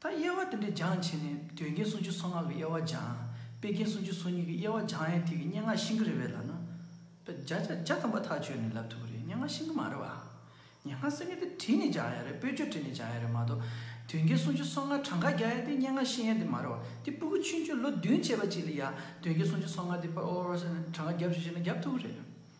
ད་དབྱེ་བ་དེ་འདྲ་སྦྱངས་བྱས་ནས་དོན་རྐྱེན་སུམ་ཅུ་སོ་ལྔ་གི་དབྱེ་བ་སྦྱངས། དཔེ་རྐྱེན་སུམ་ཅུ་སོ་གཉིས་ཀྱི་དབྱེ་བ་སྦྱངས་ཡས་དེ་གི་སྙན་ངག་ཤིང་ཀི་རེད་བས་ལབ་ན། བརྒྱ་ཆ་བརྒྱ་ཙམ་པ་ཐག་ཆོད་ནས་ལབ་ཐུབ་པ་རེད་སྙན་ངག་ཤིང་ཀི་མ་རེད་བ། སྙན་ངག་སེང་གེ་དེ་བྲིས་ནས་སྦྱངས་ཡས་རེད་པོད་ཆོས་བྲིས་ནས་སྦྱངས་ཡས་རེད་མ་གཏོགས། དོན་རྐྱེན་སུམ་ཅུ་སོ་ལྔ་གྲངས་ཀ་རྒྱག་ཡས་དེ་སྙན་ངག་ཤིང་ཡས་དེ་མ་རེད་བ། དེ་སྤུ་གུ་ཆུན་ཆུན་ལོ་བདུན་བྱས་པ་གཅིག་ལ་ཡ་དོན་རྐྱེན་སུམ་ཅུ་སོ་ལྔ་དེ་ཕར་ཨོ་རོ་ས་ནས་གྲངས་ཀ་རྒྱབ་བྱོས་ཤེ་ན་རྒྱབ་ཐུབ་བོ་རེད།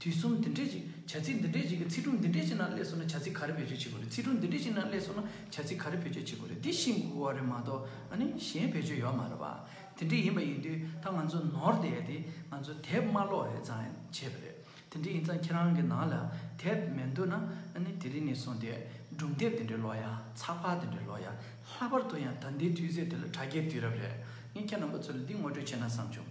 དུས་གསུམ་འདི་འདྲས་ཀྱི་བྱ་ཚིག་འདི་འདྲས་ཀྱི་གི་ཚིག་དྲུག་འདི་འདྲས་ཀྱི་ནང་སླེས་སོང་ན་བྱ་ཚིག་ག་རེ་བེད་སྤྱོད་བྱེད་དགོས་རེད་ཚིག་དྲུག་འདི་འདྲས་ཀྱི་ནང་སླེས་སོང་ན་བྱ་ཚིག་ག་རེ་བེད་སྤྱོད་བྱེད་དགོས་རེད་འདི་ཤིན་དགུ་བ་རེད་མ་གཏོགས་ནི་གཞན་བེད་སྤྱོད་ཡོད་མ་རེད་བ། དེ་འདྲས་ཡིན་པ་ཡིན་དུས་ད་ང་ཚོ་ནོར་དེ་ཡས་དེ་ང་ཚོ་དེབ་དམར་ལོག་ཡས་ཙང་བྱས་པ་རེད་དེ་འདྲས་ཡིན་ཙང་ཁྱེད་རང་གི་ནང་ལ་དེབ་མེད་འདུག་ན་ནི་དེ་རིང་ནས་བཟུང་དེ་སྒྲུང་དེབ་དེ་འདྲས་ལོག་ཡ་ཚགས་པར་དེ་འདྲས་ལོག་ཡ་ལྷག་པར་དུ་ཡང་ད་འདའི་དུས་ཚོད་དེ་ལ་དྲ་རྒྱའི་དུས་རབས་རེད་ངས་ཁྱེད་རྣམ་པ་ཚོ་ལ་འདི་ངོ་སྤྲོད་བྱས་ན་བསམ་བྱུང།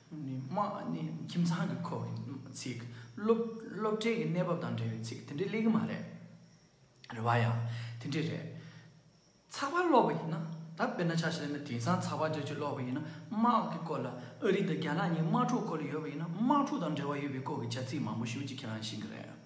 ཁྱིམ་ཚང་གི་ཁོག་གི་ཚིག། སློབ་གྲྭའི་གི་གནས་བབ་དང་འབྲེལ་བའི་ཚིག་དེ་འདྲས་གླེང་གི་མ་རེད། རེ་བ་ཡང་དེ་འདྲས་རེད། ཚགས་པར་ཀློག་པ་ཡིན་ན་ད་དཔེར་ན་ཆ་ཤས་ལེན་ན་དེང་སང་ཚགས་པར་རྒྱ་ཆེ་ཀློག་པ་ཡིན་ན་དམག་གི་སྐོར་ལ་ཨ་རི་དང་རྒྱ་ནག་གཉིས་དམག་འཁྲུག་སྐོར་ལ་ཡོད་པ་ཡིན་ན་དམག་འཁྲུག་དང་འབྲེལ་བ་ཡོད་པའི་སྐོར་གྱི་བྱ་ཚིག་མང་པོ་ཞིག་ཅིག་ཁྱེད་རང་ཤེས་གི་རེད།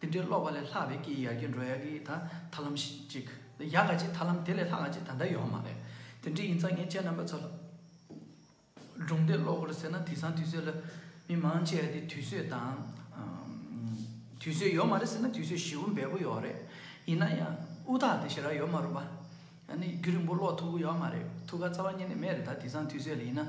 དེ་འདྲའི་ཀློག་པ་ལས་ལྷག་པའི་སྐད་ཡིག་ཡར་རྒྱས་འགྲོ་ཡག་གི་ད་ཐར་ལམ་ཅིག་ཡག་ག་ཅིག་ཐར་ལམ་དེ་ལས་ལྷག་ག་ཅིག་ད་ལྟ་ཡོད་མ་རེད། དེ་འདྲའི་ཡིན་ཙང་ངས་ཁྱེད་རྣམ་པ་ཚོ་ལ་སྒྲུང་དེ་ཀློག་གོ་ཟེར་ན་དེང་སང་དུས་ཚོད་ལ་མི་མང་ཆེ་བ་དེ་དུས་ཚོད་དང། དུས་ཚོད་ཡོད་མ་རེད་ཟེར་ན་དུས་ཚོད་ཞེ་བོ་འབེལ་པོ་ཡོད་རེད། ཡིན་ན་ཡང་དབུ་ཐག་དེ་ཞེ་རག་ཡོད་མ་རུང་བ། ཡང་ནི་རྒྱུད་རིང་པོ་ཀློག་ཐུབ་གི་ཡོད་མ་རེད་ཐུགས་ཁ་རྩ་བ་ཉིད་ནས་མེད་རེད་ད་དེང་སང་དུས་ཚོད་ལ་ཡིན་ན།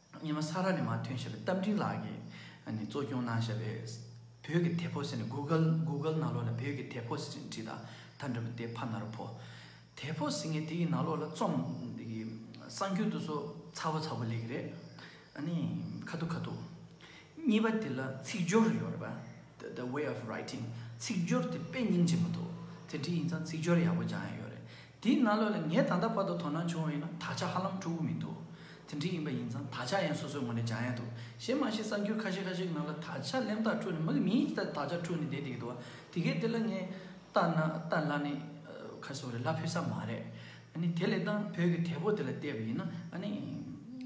སྙེ་མོ་ས་ར་ནས་མ་ཐོན་ཞེས་པའི་རྟ་མགྲིན་ལགས་ཀྱིས་གཙོ་སྐྱོང་གནང་བཞག་པའི་བོད་ཀྱི་དེ་ཕོ་ཟེར་ནས Google ནང་ལོག་ལ་བོད་ཀྱི་དེ་ཕོ་ཟེར་ནས་བྲིས་ད་ད་འདྲ་བོ་དེ་ཕ་ན་རོ་ཕོ། དེ་ཕོ་ཟེར་ངེས་དེ་ཡི་ནང་ལོག་ལ་རྩོམ་གསང་རྒྱུད་དུ་སོ་ཚ་བོ་ཚ་བོ་ལེགས་རེད་ཨ་ནི་ཁ་ཐུག་ཁ་ཐུག། གཉིས་པ་དེ་ལ་ཚིག་སྦྱོར་ཡོད་རེད་པ the way of writing ཚིག་སྦྱོར་དེ་དཔེ་རྙིང་ཆེན་པོ་འདུག་དེ་འདྲི་ཡིན་ཙང་ཚིག་སྦྱོར་ཡག་པོ་སྦྱང་ཡ་ཡོད་རེད། དེའི་སྔ་ལོ་ལ་ངས་ད་ལྟ་བར་དུ་དོ་སྣང་བྱུང་བ་ཡིན་ན་དག་ཆ་ཧ་ལམ་འཁྲུག་གི་མི་འདུག་དེ་འདྲ་ཡིན་པ་ཡིན་ཙང་དག་ཆ་ཡང་སོ་སོའི་ངོས་ནས་འཇགས་ཡས་འདུག་གཞན་མ་གཞི་གསར་འགྱུར་ཁ་ཤས་ཁ་ཤས་ཀྱི་ནང་ལ་དག་ཆ་གླེན་རྟགས་འཁྲུག་ནས་མི་གི་མིང་ཞིག་ལྟར་དག་ཆ་འཁྲུག་ནས་བསྡད་དེ་གི་འདུག་དེ་གས་དེ་ལ་ངས་བལྟ་ན་བལྟ་སླ་ནི་ཁ་གསོ་རེད་སླ་ཕུལ་ས་མ་རེད་ཨཱ་ནི་དེ་ལས་ད་བོད་ཀྱི་དལ་པོ་དེ་ལ་བལྟས་པ་ཡིན་ན་ཨཱ་ནི་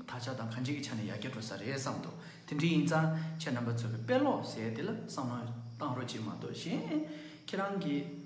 དག་ཆ་དང་གང་ཅིའི་ཆ་ནས་ཡར་རྒྱས་འགྲོ་ས་རེད་བསམ་འདུག་དེ་འདྲ་ཡིན་ཙང་ཁྱེད་རྣམ་པ་ཚོས་གི་དཔེ་ཀློག་ཟེར་ཡས་དེ་ལ་བསམ་བློ་བཏང་རོགས་ཅི་མ་གཏོགས་གཞན་ཁྱེད་རང་གིས།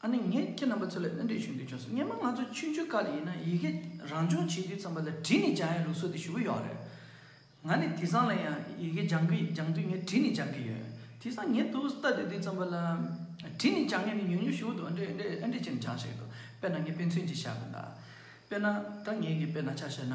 ཨ་ནི་ངས་ཁྱེད་རྣམ་པ་ཚོ་ལ་གནོན་འདོད་བྱུང་རྒྱུ་བྱུང་སོང་སྙམ་མོད་ང་ཚོ་ཆུང་ཆུང་དཀའ་ལས་ཡིན་ན་ཡི་གེ་རང་སྦྱོང་བྱེད་དུས་ཙམ་པ་ལ་བྲིས་ནས་སྦྱང་ཡ་ལུགས་སྲོལ་དེ་ཞུ་གི་ཡོད་རེད། ང་ནི་དེ་སང་ལ་ཡང་ཡི་གེ་སྦྱང་གི་སྦྱང་དུས་ངས་བྲིས་ནས་སྦྱང་གི་ཡོད། དེ་སང་ངས་ཏུའུ་སྟ་བསྡད་དུས་ཙམ་པ་ལ་བྲིས་ནས་སྦྱང་ངེས་ནས་ཉུང་ཉུང་ཞུ་གི་འདུག་ཨ་འདྲེ་ཨ་འདྲེ་ཨ་འདྲེ་ཅེས་ནས་སྦྱང་བཞིན་ཡོད་དོ་དཔེར་ན་ངས་དཔེ་མཚོན་གྱིས་བཤད་དགོས་ན། དཔེར་ན་ད་ངེད་ཀྱིས་དཔེར་ན་ཆ་བཤད་ན།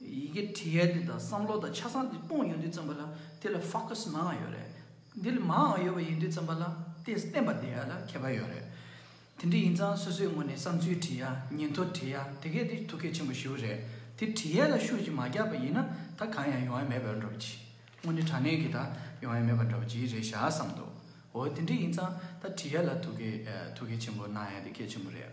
ཡི་གེ་བྲི་ཡལ་འདི་དང་བསམ་བློ་དང་ཆ་ཚང་འདི་སྤོངས་ཡོང་དུས་བརྩོན་པ་ལ་དེ་ལ focus མང་ཡང་ཡོད་རེད། འདི་ལ་མང་ཡང་ཡོད་པ་ཡིན་དུས་བརྩོན་པ་ལ་དེ་བསྟན་པ་འདི་ཡ་ལ་ཁྱད་པར་ཡོད་རེད། དེ་འདྲ་ཡིན་ཙང་སོ་སོའི་ངོས་ནས་བསམ་ཚུལ་བྲི་ཡ་ཉིན་ཐོ་བྲི་ཡ་དེ་སྐད་དེ་ཐུགས་གལ་ཆེན་པོ་ཞུ་རེད་དེ་བྲི་ཡལ་ལ་ཤུགས་ཀྱིས་མ་རྒྱག་པ་ཡིན་ན་ད་གང་ཡང་ཡོང་ཡ་མེད་པའི་འགྲོ་བ་གྱིས་དངོས་གནས་དྲ་གནས་ཀྱི་ད་ཡོང་ཡ་མེད་པ་འགྲོ་བ་གྱིས་རེད་ཤག་བསམ་འདུག་འོ་དེ་འདྲ་ཡིན་ཙང་ད་བྲི་ཡལ་ལ་ཐུགས་གལ་ཆེན་པོ་གནང་ཡ་དེ་གལ་ཆེན་པོ་རེད།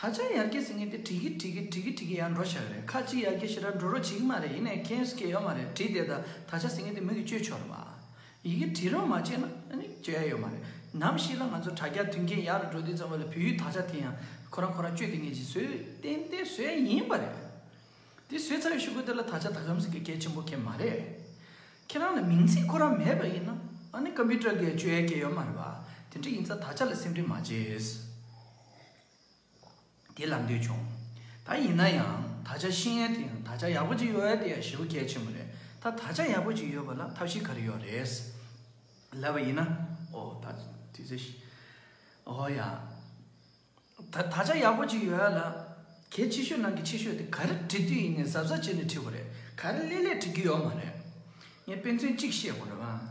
ད་ཆ་ཡར་རྒྱས་ཟེར་ངེས་ཏེ་བྲིས་ཀི་བྲིས་ཀི་བྲིས་ཀི་བྲིས་ཀི་ཡར་འགྲོ་བྱས་པ་རེད་ཁ་ཅིག་ཡར་རྒྱས་ཞེ་དྲག་འགྲོ་རོགས་བྱེད་ཀི་མ་རེད་ཡིན་ནའི་ཁེངས་སྐད་ཡོད་མ་རེད་བྲིས་བསྡད་ད་ད་ཆ་ཟེར་ངེས་ཏེ་མོས་ཀི་བཅོས་ཆོག་རེད་མ་ཡི་གི་བྲིས་རོགས་མ་བྱས་ན་ནི་བཅོས་ཡ་ཡོད་མ་རེད་ནམ་ཞིག་ལ་ང་ཚོ་དྲ་རྒྱ་དུས་མཁྱེན་ཡག་རུ་འགྲོ་དུས་ཙམ་ལ་བོད་ཡུལ་ད་ཆ་དེ་ཡང་ཁོ་རང་ཁོ་རང་བཅོས་བསྡད་ངེས་ཀྱི་ཟོས་ཏན་ཏན་ཟོས་ཡ་ཡིན་པ་རེད་དེ་ཟོས་ཚར་བའི་ཤུ་གུ་དེ་ལ་ད་ཆ་ད་གམ་ཟེར་གི་སྐད་ཆེན་པོ་ཁེ་མ་རེད་ཁྱེད་རང་ལ་མིང་ཚིག་ཁོ་རང་མེད་པ་ཡིན་ན་ནི་ཀམ་པི་ཏྲ་གི་བཅོས་ཡ་སྐད་ཡོད་མ་རེད་བ་དེ་འདྲ་ཡིན་ཚ་ད་ཆ་ལ་སེམས་ཁྲེལ་མ་བྱེད། དེ་ལ་འདོད་བྱུང། ད་ཡིན་ན་ཡང་ད་ཆ་ཤེས་ཡན་དེ་ཡང་ད་ཆ་ཡག་པོ་ཅིག་ཡོད་དེ་ཡང་ཞེ་བོ་གལ་ཆེན་པོ་རེད་ད་ད་ཆ་ཡག་པོ་ཅིག་ཡོད་པ་ལ་ཐབས་ཤེས་ག་རེ་ཡོད་རེད། ལབ་པ་ཡིན་ན། ཨོ་ད་དུས་ཚོད་ཤེས། ཨོ་ཡ། ད་ད་ཆ་ཡག་པོ་ཅིག་ཡོད་ལ། ཁྱེད་ཕྱི་ཤོད་ནང་གི་ཕྱི་ཤོད་དེ་ག་རེ་བྲི་དུས་ཡིན་ནས་གཟབ་གཟབ་བྱས་ནས་བྲིས་པ་རེད་ག་རེ་ལེ་ལེ་བྲི་རྒྱུ་ཡོད་མ་རེད། ངས་དཔེ་མཚོན་གཅིག་བཤད་དགོས་རེད།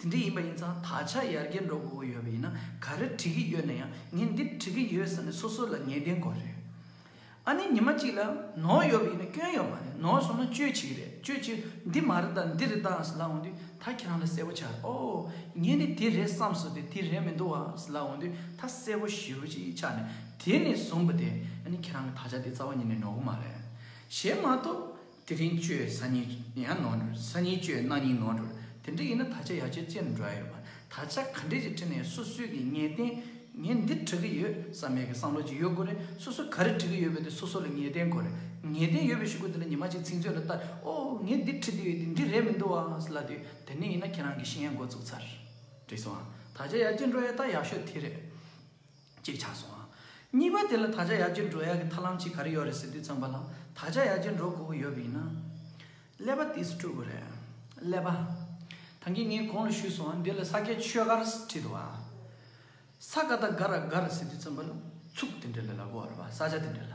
དེ་འདྲ་ཡིན་པ་ཡིན་ཙང་ད་ཆ་ཡར་རྒྱས་འགྲོ་དགོས་ཀྱི་ཡོད་པ་ཡིན་ན་ག་རེ་བྲི་གི་ཡོད་ན་ཡང་ངས་འདི་བྲི་གི་ཡོད་ཟེར་ནས་སོ་སོ་ལ་ངེས་གཏན་གོ་རེད། ཨ་ནེ་ཉི་མ་གཅིག་ལ་ནོར་ཡོད་པ་ཡིན་ན་སྐྱོན་ཡོད་མ་རེད་ནོར་སོང་ན་བཅོས་བྱེད་ཀྱི་རེད་བཅོས་བྱེད་འདི་མ་རེད་ད་འདི་རེད་ད་ཟེར་ལ་འོང་དུས་ད་ཁྱེད་རང་ལ་གསལ་བོ་ཆགས་རེད་ཨོ་ངས་ནི་དེ་རེད་བསམ་སོང་སྟེ་དེ་རེད་མི་འདུག་བ་ཟེར་ལ་འོང་དུས་ད་གསལ་བོ་ཞེ་བོ་ཅིག་ཆགས་ནས་དེ་ནས་བཟུང་བ་དེ་ཨ་ནེ་ཁྱེད་རང་གི་ད་ཆ་དེ་རྩ་བ་ཉིད་ནས་ནོར་གི་མ་རེད། ཞེས་མ་གཏོགས་དེ་རིང་བཅོས་ས་གཉིས་ཡང་ནོར་འགྲོ་ས་གཉིས་བཅོས་གནང་གཉིས་ནོར་འགྲོ་དེ་འདྲ་ཡིན་ན་ད་ཆ་ཡ་ཆེ་ཅི་འདྲ་ཡོད་མ་ད་ཆ་ག་འདྲས་ཀྱི་ཁྲི་ནས་སོ་སོས་ཀྱི་ངས་བསྟན་ངས་འདི་བྲི་གི་ཡོད་བསམ་མེད་ཀྱི་བསམ་བློ་ཅིག་ཡོད་དགོས་རེད་སོ་སོས་ག་རེ་བྲི་གི་ཡོད་པའི་དེ་སོ་སོ་ལ་ངེས་བསྟན་དགོས་རེད་ངེས་བསྟན་ཡོད་པའི་ཞུ་གུ་དེ་ལ་ཉི་མ་གཅིག་ཚིག་མཛོད་ལ་བལྟ་ཨོ་ངས་འདི་བྲི་དུས་འདི་འདྲི་རེད་མི་འདུག་བ་ལ་དུས་དེ་ནས་ཡིན་ན་ཁྱེད་རང་གི་ཤེས་ཡན་འགོ་བཙུགས་ཚར་རེད་བསམ་དང་ད་ཆ་ཡ་ཅི་འདྲ་ཡོད་ད་ཡག་ཤོས་དེ་རེད། ཅིག་ཆགས་སོང་ཨ། གཉིས་པ་དེ་ལ་ད་ཆ་ཡར་རྒྱས་འགྲོ་ཡག་གི་ཐར་ལམ་ཅིག་ག་རེ་ཡོད་རེད་ཟེར་དུས་ཚངས་པ་ལགས་ད་ཆ་ཡར་རྒྱས་འགྲོ་དགོས་ཀྱི་ཡོད་པ་ཡིན་ན། ཀླད་པ་དེ་སུ་ཕྲུ་གུ་རེད། ཀླད་པ། ཐང་གིས་ངས་གོང་ལ་ཞུས་སོང་ཨ་འདི་ལ་ས་སྐྱའི་ཆོས་སྒར་བྲིས་འདུག་ཨ། ས་ཀ་ད་ག་ར་ག་ར་ཟེར་དུས་ཚངས་པ་ལགས་ཚུགས་དེ་འདྲ་ལས་ལ་གོ་བ་རེད་པ་ས་ཆ་དེ་འདྲ་ལ།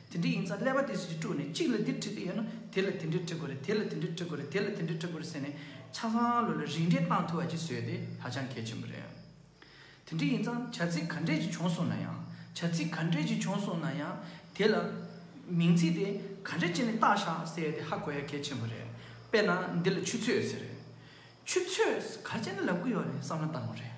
དེ་འདྲ་ཡིན་ཙང་ཀླད་པ་དེ་བཞིན་དཀྲུགས་ནས་གཅིག་ལ་འདིར་འཁྲིད་ཀྱི་ཡོད་ན་དེ་ལ་དེ་འདྲས་འཁྲིད་དགོས་རེད་དེ་ལ་དེ་འདྲས་འཁྲིད་དགོས་རེད་དེ་ལ་དེ་འདྲས་འཁྲིད་དགོས་རེད་ཟེར་ནས་ཆ་ཚང་ལོ་ལ་རིགས་འགྲེ་གཏང་ཐུབ་བ་ཅིག་བཟོས་དེ་ཧ་ཅང་གལ་ཆེན་པོ་རེད། དེ་འདྲས་ཡིན་ཙང་བྱ་ཚིག་ག་འདྲས་ཅིག་བྱུང་སོང་ན་ཡང་བྱ་ཚིག་ག་འདྲས་ཅིག་བྱུང་སོང་ན་ཡང་དེ་ལ་མིང་ཚིག་དེ་ག་འདྲས་ཅིག་ནས་བཏགས་ཤག་ཟེར་དེ་ཧ་གོ་ཡ་གལ་ཆེན་པོ་རེད། དཔེར་ན་འདི་ལ་ཆུ་ཚོད་ཟེར། ཆུ་ཚོད་ག་ཅིག་ནས་ལབ་ཀྱི་ཡོད་རེད་བསམ་ན་བཏང་བ་རེད།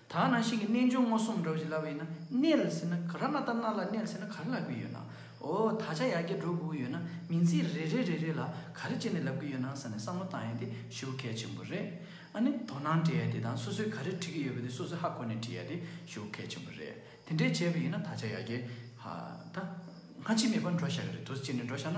ད་ང་ནང་བཞིན་གྱི་རྣལ་འབྱོར་མངོན་སུམ་འགྲོ་བཞིན་ལབ་པ་ཡིན་ན་གནས་ལ་ཟིན་ན་ག་ར་མ་ཏར་སྣ་ལ་གནས་ལ་ཟིན་ན་ག་རེ་ལབ་ཀྱི་ཡོད་ནང་འོ་ད་ཆ་ཡར་རྒྱས་འགྲོ་དགོས་ཀྱི་ཡོད་ན་མིང་ཚིག་རེ་རེ་རེ་རེ་ལ་ག་རེ་བྱས་ནས་ལབ་ཀྱི་ཡོད་ནང་ས་ནས་བསམ་བློ་བཏང་ཡོད་དེ་ཞུ་བ་གལ་ཆེན་པོ་རེད་ཨ་ནི་དོ་སྣང་བྲེལ་ཡོད་དེ་དང་སོ་སོས་ག་རེ་བྲི་གི་ཡོད་པ་དེ་སོ་སོས་ཧ་གོ་ནས་བྲི་ཡོད་དེ་ཞུ་བ་གལ་ཆེན་པོ་རེད་དེ་འདྲས་བྱས་པ་ཡིན་ན་ད་ཆ་ཡར་རྒྱས་ཧ་ད་སྔ་ཕྱི་མེད་པར་འགྲོ་ཤག་གི་རེད་དོ་སྤྱིར་ནས་འགྲོ་ཤག་ན།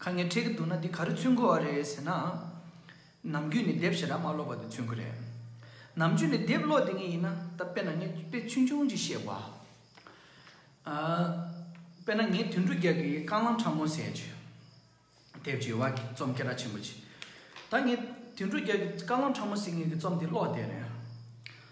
ཁ་ངའི་འཕྲད་ཀྱི་འདུག་ན་འདི་ག་རེ་ཚུན་ཁོ་བ་རེད་ཟེར་ན། ནམ་རྒྱུན་ནས་དེབ་ཞེ་དྲག་མ་ཀློག་པ་དེ་ཚུན་ཁོ་རེད། ནམ་རྒྱུན་ནས་དེབ་ཀློག་དེ་ངས་ཡིན་ན་ད་དཔེ་ན་ངས་དཔེ་ཆུང་ཆུང་ཅིག་བཤད་གོ། དཔེ་ན་ངས་དུད་འགྲོ་རྒྱག་གི་རྐང་ལམ་ཕྲ་མོ་ཟེར་བྱས། དེབ་ཀྱི་ཡོལ་བ་གྱི་རྩོམ་སྐད་གྲགས་ཆེན་པོ་ཅིག། ད་ངས་དུད་འགྲོ་རྒྱག་གི་རྐང་ལམ་ཕྲ་མོ་ཟེར་ངེས་ཀྱི་རྩོམ་དེ་ཀློག་བསྡད་རན།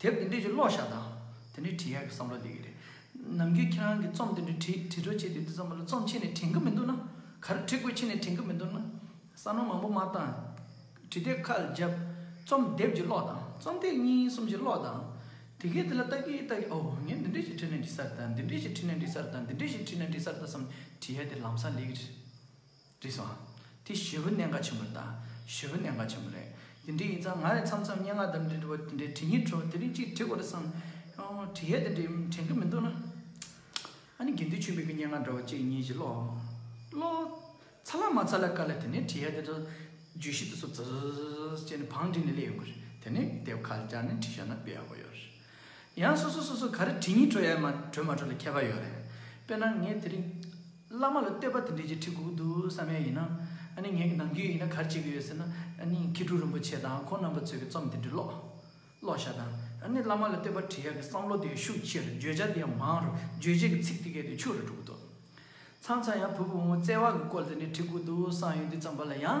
དེབ་འདི་འབྲི་རྒྱུ་ཀློག་ཤག་དང། དེ་འདྲའི་བྲིས་ཡག་གི་བསམ་བློ་ལེགས་ཀྱི་རེད། ནམ་རྒྱུན་ཁྱེད་རང་གི་རྩོམ་དེ་འདྲའི་བྲིས་བྲིས་གྲོགས་བྱས་དུས་འདི་ཙམ་ལ་རྩོམ་ཆེ་ནས་དྲན་གི་མི་འདུག་ན། ག་རེ་བྲིས་དགོས་ཆེ་ནས་དྲན་གི་མི་འདུག་ན། ས་ནོར་མང་པོ་མ་བཏང། བྲིས་དེབ་ཁ་བརྒྱབ། རྩོམ་དེབ་ཀྱི་ཀློག་དང་རྩོམ་དེབ་གཉིས་གསུམ་གྱི་ཀློག་དང། དེ་གས་དེ་ལ་ལྟ་གིན་ལྟ་གིན་ཨོ་ངས་འདི་འདྲ་ཞིག་བྲིས་ནས་འབྲི་སར་དང་འདི་འདྲ་ཞིག་བྲིས་ནས་འབྲི་སར་དང་འདི་འདྲ་ཞིག་བྲིས་ནས་འབྲི་སར་ལྟ་བསམ་བྲིས་ཡག་དེ་ལམ་སང་ལེགས་རེད། དྲིས་སོ། དེ་བཞི་བོ་གནས་འགའ་ཆེན་པོ་རེད་ད། བཞི་བོ་གནས་འགའ་ཆེན་པོ་རེད། དེ་འདྲའི་ཡིན་ཙང་ང་ནི་མཚམས་མཚམས་སྙན་ངག་དང་འབྲེལ་འབྲི་བ་དེ་འདྲའི་བྲི་སྙིང་བྲོ་དེ་རིགས་ཅིག་བྲི་དགོས་རེད་བསམ། བྲི་ཡས་དེ་འདྲའི་དྲན་གི་མི་འདུག་ན། ཨ་ནི་དགེ་འདུན་ཆོས་འཕེལ་གྱི་སྙན་ངག་འདྲ་བ་གཅིག་གཉིས་ཅིག་ཀློག། ཀློག། ཚ་ལ་མ་ཚ་ལ་དཀའ་ལ་དེ་ནས་བྲི་ཡས་དེ་འདྲ། བརྗོད་གཞི་དེ་ཚོ་ཙི་ཙི་ཙི་ཙི་ཅེས་ནི་བང་བསྒྲིགས་ནས་སླེ་ཡོང་གི་རེད། དེ་ནས་དེབ་ཁ་ལ་བཅར་ནས་བྲི་ཤག་ན་སྤེལ་ཡག་པོ་ཡོད་རེད། ཡང་སོ་སོ་སོ་སོ་ག་རེ་བྲི་སྙིང་བྲོ་ཡས་མ་བྲོས་མ་བྲོས་ལ་ཁྱད་པར་ཡོད་རེད། དཔེར་ན་ངས་དེ་རིང། བླ་མ་ལ་བསྟོད་པ་དེ་འདྲས་ཀྱི་ཁྲིད་སྒུག་འདུག་བསམ་ཡས་ཡིན་ན། ཨ་ནི་ངེད་ཀྱི་ནང་རྒྱུད་ཡིན་ན་གར་བྱེད་ཀྱི་ཡོད་ཟེར་ན། ཨ་ནི་མཁས་གྲུབ་རིན་པོ་ཆེ་དང་ཁོང་རྣམ་པ་ཚོས་ཀྱི་རྩོམ་དེ་འདྲས་ཀློག། ཀློག་བྱ་དང། ཨ་ནི་བླ་མ་ལ་བསྟོད་པ་དྲི་ཡག་གི་བསམ་བློ་དེ་ཡང་ཤུགས་ཆེར་བརྗོད་བྱ་དེ་ཡང་མང་རུ་བརྗོད་བྱེད་ཀྱི་ཚིག་དེ་གས་དུས་ཆུ་རུ་གྲུབ་འདུག། ཚང་ཚང་ཡང་བུ་བུ་མོ་མོ་བརྩེ་བ་གི་སྐོར་དེ་འདྲས་ཁྲིད་སྒུག་འདུག་བསམ་ཡོད་འདི་ཙམ་པ་ལ་ཡང།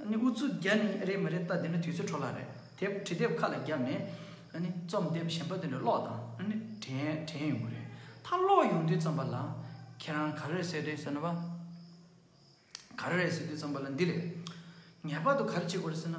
ཨ་ནི་ཨུ་ཚུགས་རྒྱ་ནི་རེད་མི་རེད་ལྟ་དེ་ནི་དུས་ཚོད་འཕྲོ་བརླག་རེད་དེབ་བྲི་དེབ་ཁ་ལ་བརྒྱབ་ནས་ཨ་ནི་རྩོམ་དེབ་གཞན་པ་དེ་འདྲ་ཀློག་དང་ཨ་ནི་དྲན་དྲན་ཡོང་གི་རེད་ད་ཀློག་ཡོང་དུས་རྩོམ་པ་ལ་ཁྱེད་རང་ག་རེ་རེད་ཟེར་རེད་ཟེར་ན་བ་ག་རེ་རེད་ཟེར་དུས་རྩོམ་པ་ལ་འདི་རེད་ངེས་པར་དུ་ག་རེ་བྱེད་དགོས་རེད་ཟེར་ན།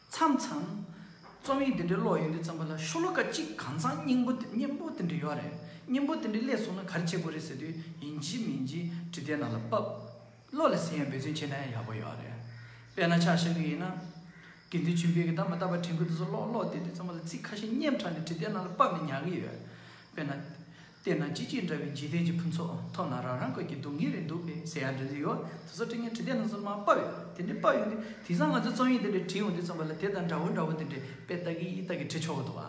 མཚམས་མཚམས། རྩོམ་ཡིག་འདི་འདྲའི་ཀློག་ཡོད་དུས་བརྩམས་པ་ལ་ཤོ་ལོ་ཀ་གཅིག་གང་བཟང་སྙིང་པོ་སྙན་པོ་དེ་འདྲ་ཡོད་རེད་སྙན་པོ་དེ་འདྲ་ཀླད་སོང་ན་ག་རེ་བྱེད་དགོས་རེད་ཟེར་དུས་ཡིན་གཅིག་མིན་གཅིག་བྲིས་ཏེ་ནང་ལ་དཔབ། བློ་ལ་ཟིན་ཡང་འབད་བརྩོན་བྱས་ན་ཡང་ཡག་པོ་ཡོད་རེད། དཔེར་ན་ཆ་བཞག་གི་ཡིན་ན། དགེ་འདུན་ཆོས་འཕེལ་གྱི་ད་མ་ད་པ་དྲན་སྐུལ་དེ་ཚོ་ཀློག་ཀློག་དེ་དུས་བརྩམས་པ་ལ་ཚིག་ཁ་ཤས་སྙན་དྲགས་ནས་བྲིས་ཏེ་ནང་ལ་དཔབ་ནས་ཉར་གི་ཡོད། དཔེར་ན། བལྟས་ན་ཅི་ཅི་འདྲ་བའི་འཇིག་རྟེན་གྱི་ཕུན་ཚོགས་ཐོབ་ན་རང་རང་དགོས་ཀྱི་སྡུག་བསྔལ་རེ་འདུག་པས་ཟེར་ཡག་འདྲ་འདི་ཡོད་དེ་ཚོ་དྲི་ངན་བྲིས་དེ་རྣམས་ཚོ་མ་དཔར་ཡོད་དེ་འདྲས་དཔར་ཡོད་དེ་དེང་སང་ང་ཚོས་རྩོམ་ཡིག་འདི་འདྲས་བྲིས་ཡོང་དུས་རྩོམ་པ་ལ་དེ་དང་འདྲ་བོ་འདྲ་བོ་དེ་འདྲས་དཔེ་ལྟ་གི་ཡིད་ལྟ་གི་བྲིས་ཆོག་གི་འདུག་བ་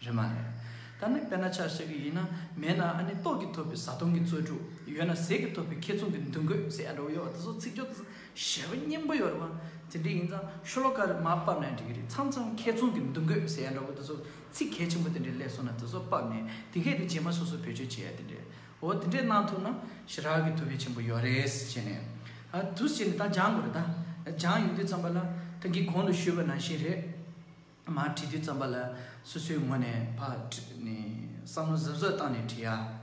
རེད་མ་རེད། ད་ནི་དཔེར་ན་ཆ་བཤད་གི་ཡིན་ན་མེད་ན་ཨ་ནི་ལྟོགས་ཀྱིས་ཐོབ་པའི་བཟའ་བཏུང་གི་རྩོལ་སྤྲུག་ཡོད་ན་ཟས་ཀྱིས་ཐོབ་པའི་ཁེ་བཙུན་གྱི་འདུ་འགོད་ཟེར་ཡག་འདྲ་བོ་ཡོད་བ་དེ་ཚོ་ཚིག་སྦྱོར་དང་ཞེས་པ་སྙན་པོ་ཡོད་རེད་བ་དེ་འདྲས་ཡིན་ཙང་ཤོ་ལོ་ཀ་རེ་མ་དཔར་ན་འགྲིག་གི་རེད་མཚམས་མཚམས་ཁེ་བཙུན་གྱི་འདུ་འགོད་ཟེར་ཡག་འདྲ་བོ་དེ་ཚོ་ཚིག་གལ་ཆེན་པོ་དེ་འདྲའི་སླད་སོང་ན་དེ་ཚོ་དཔག་ནས་དེ་སྐད་དུ་རྗེས་མ་སོ་སོ་བེད་སྤྱོད་བྱེད་ཡ་དེ་འདྲས་འོ་དེ་འདྲས་གནང་ཐུབ་ན་ཞི་རག་གི་ཐུབ་བེ་ཆེན་པོ་ཡོ་རེད་ཟེར་བྱས་ནས་ཨ་དུས་བྱས་ནས་ད་སྦྱང་དགོས་རེད་ད་སྦྱང་ཡོང་དུས་བརྩམས་པ་ལ་ད་འགི་གོང་དུ་ཞུས་པ་ནང་བཞིན་རེད་མ་བྲིས་དུས་བརྩམས་པ་ལ་སོ་སོའི་ངོ་ནས་བག་བསམ་བློ་གཟབ་གཟབ་བཏང་ནས་བྲིས་ཡ།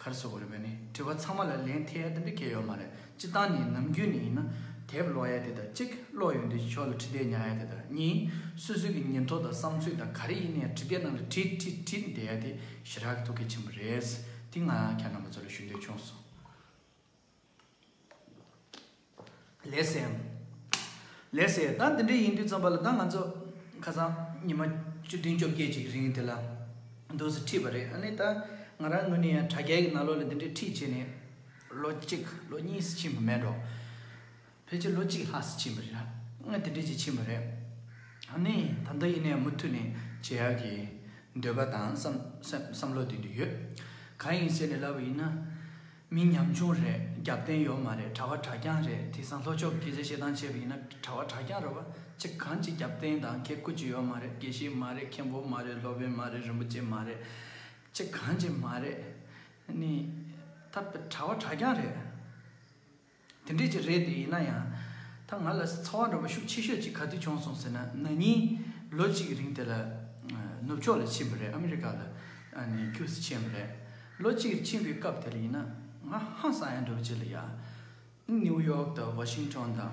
ཁར་སོ་དགོས་རེད་བས་ནི་དྲི་བ་ཚང་མ་ལ་ལན་ཐེ་ཡ་དེ་འདྲ་ཁེལ་ཡོད་མ་རེད་སྤྱི་བཏང་ནི་ནམ་རྒྱུན་ནས་ཡིན་ན་དེབ་ཀློག་ཡ་དེ་དང་གཅིག་ཀློག་ཡོང་དུས་ཀྱི་ཕྱོགས་ལ་ཁྲི་བདས་ཉར་ཡ་དེ་དང་གཉིས་སོ་སོའི་གི་ཉིན་ཐོ་དང་བསམ་ཚུལ་དང་ག་རེ་ཡིན་ནའི་ཁྲི་བདས་རྣམས་ལ་བྲིས་བྲིས་བྲིས་བསྡད་ཡ་དེ་ཞེ་དྲག་གི་ཐུགས་གལ་ཆེན་པོ་རེད་དེ་ང་རང་ཁྱེད་རྣམ་པ་ཚོ་ལ་ཞུ་འདོད་ཆུང་སོང། ལེགས་སོ། ལེགས་སོ། ད་འདི་འདྲ་ཡིན་དུས་རྩོམ་པ་ལ་ད་ང་ཚོ་ཁ་སང་ཉི་མ་བཅུ་བདུན་བཅོ་བརྒྱད་ཅིག་རིང་དེ་ལ་འདུག་སུ་ཁྲིད་པ་རེད་ཨ་ནི་ད་ང་རང་ངོས་ནས་ཡང་དྲ་རྒྱའི་ནང་ལོག་ལ་འདི་འདྲའི་ཁྲིད་བྱས་ནས་ལོ་གཅིག་ལོ་གཉིས་སུ་ཕྱིན་པ་མེད་འགྲོ། ཕལ་ཆེར་ལོ་གཅིག་ལྷག་སུ་ཕྱིན་པ་རེད། ཨ་དེ་འདྲས་ཅིག་ཕྱིན་པ་རེད། ཨ་ནི་ད་ལྟ་ཡིན་ནའི་མུ་མཐུད་ནས་བྱེད་ཡག་གི་འདོད་པ་དང་བསམ་བློ་དེ་འདི་ཡོད། གང་ཡིན་ཟེར་ནས་ལབ་པ་ཡིན་ན། མི་ཉམ་ཆུང་རེད་རྒྱབ་རྟེན་ཡོད་མ་རེད་གྲྭ་བ་གྲྭ་རྐྱང་རེད་དེ་སང་ལྷོ་ཕྱོགས་དགེ་བཤེས་ཤེས་ཐང་ཆེ་བ་ཡིན་ན་གྲྭ་བ་གྲྭ་རྐྱང་རེད་བ་ཅི་གང་ཅི་རྒྱབ་རྟེན་དང་གེ་ཁུ་ཅི་ཡོད་མ་རེད་དགེ་བཤེས་མ་རེད་མཁན་པོ་མ་རེད་སློབ་དཔོན་མ་རེད་རིན་པོ་ཆེ་མ་རེད་ཅི་གང་ཅི་མ་རེད་ནི་ད་གྲྭ་བ་གྲྭ་རྐྱང་རེད། དེ་འདྲས་ཀྱི་རེད་དེ་ཡིན་ན་ཡང། ད་ང་ལ་ཚ་བ་འདྲ་པོ་ཤུགས་ཆེ་ཤོས་ཅིག་ག་དུས་བྱུང་སོང་ཟེར་ན་ན་ནིང་ལོ་གཅིག་གི་རིང་དེ་ལ། ནུབ་ཕྱོགས་ལ་ཕྱིན་པ་རེད་ཨ་མི་རི་ཀ་ལ་ཁྱུ་ཟིག་ཕྱིན་པ་རེད། ལོ་གཅིག་གིར་ཕྱིན་པའི་སྐབས་དེར་ཡིན་ན་ང་ཧང་སང་ཡང་འདྲ་བོ་བྱེད་ལ་ཡ། ནིའུ་ཡོག་དང་ཝ་ཤིང་ཏོན་དང།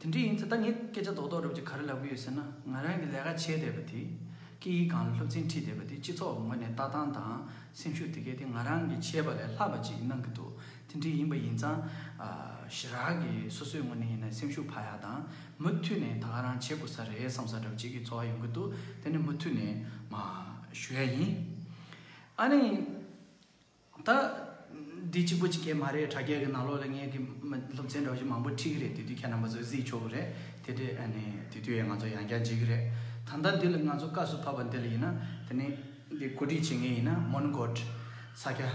དེ་འདྲ་ཡིན་ཚེ་ད་ངས་སྐད་ཆ་རྡོག་རྡོག་རུབ་ཅིག་ག་རེ་ལབ་གི་ཡོད་ཟེར་ན་ང་རང་གིས་ལས་ཀ་བྱས་བསྡད་པ་དེ་སྐད་ཡིག་གང་ལ་སློབ་ཚན་ཁྲིད་བསྡད་པ་དེ་སྤྱི་ཚོགས་ངོས་ནས་ལྟ་སྟངས་དང་སེམས་ཤུགས་དེ་གས་དེ་ང་རང་གིས་བྱས་པ་ལས་ལྷག་པ་ཅིག་གནང་གི་འདུག་དེ་འདྲ་ཡིན་པ་ཡིན་ཙང། ཞི་རགས་ཀྱིས་སོ་སོའི་ངོས་ནས་ཡིན་ན་སེམས་ཤུགས་བག་ཡག་དང་མུ་མཐུད་ནས་ད་ག་རང་བྱེད་དགོས་ས་རེད་བསམ་ས་འདྲ་བོ་ཅིག་གི་ཚོར་བ་ཡོང་གི་འདུག་དེ་ནི་མུ་མཐུད་ནས། མ། ཞུ་ཡ་ཡིན། ཨ་ནི། ད། འདི་གཅིག་པོ་གཅིག་གྱེས་མ་རེད་དྲ་རྒྱ་གི་ནང་ལོགས་ལ་ངའི་གི་སློབ་ཚན་གྲོགས་གཅིག་མང་པོ་ཁྲིད་གི་རེད་དེ་དུས་ཁྱེད་རྣམ་པ་ཚོ་གཟིགས་ཆོག་གི་རེད་དེ་དུས་ཨ་ནི་དེ་དུས་ཡང་ང་ཚོ་ཡང་བསྐྱར་འཇིག་གི་རེད་ད་ལྟ་འདི་ལ་ང་ཚོ་བཀའ་སུ་ཕབ་པ་འདི་ལ་ཡིན་ན་དེ་ནི་འདི་གོ་སྒྲིག་བྱེད་མཁན་ཡིན་ན་མོན་གྷོ། ས་སྐྱ།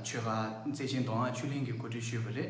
ཆོལ་ཁ་བརྩེ་ཆེན་མདོ་སྔགས་ཆོས་གླིང་གི་གོ་སྒྲིག་ཞུས་པ་རེད།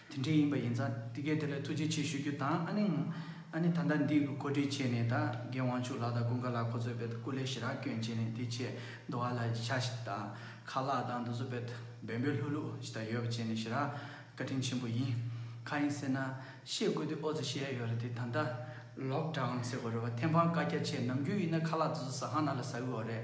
དེ་འདྲའི་ཡིན་པ་ཡིན་ཙང་འདི་གའི་དེ་ལ་ཐུགས་རྗེ་ཆེ་ཞུ་རྒྱུ་དང་ཨ་ནེ། ཨ་ནེ་ད་ལྟ་འདི་གོ་སྒྲིག་བྱས་ནས་ད་གེ་དབང་ཕྱུག་ལགས་དང་ཀུན་དགའ་ལགས་ཁོ་ཚོའི་བེད་སྐུ་ལས་ཞི་རགས་སྐྱོན་བྱས་ནས་དེ་ཆེད་མདོ་བ་ལ་ཤ་ཞིག་དང་ཁ་ལག་དང་འདུ་ཚོ་བེད་བེད་འབོད་ལྷུག་ལྷུག་ཞིག་དང་ཡོད་པ་བྱས་ནས་ཞི་རགས་བཀའ་དྲིན་ཆེན་པོ་ཡིན། ཁ་ཡིན་ཟེར་ན་ཤེས་དགོས་དུས་ཨོ་ཙི་ཤེས་ཡ་ཡོད་རེད་དེ་ད་ལྟ་ལོག་འདྲ་འམ་ཟེར་དགོས་རེད་བ་ཐེམ་ཕང་བཀའ་རྒྱ་ཆེ་ནམ་རྒྱུན་ཡིན་ན་ཁ་ལག་འདུ་ཚོ་ཟ་ཁང་ནང་ལ་ཟ་འོས་རེད།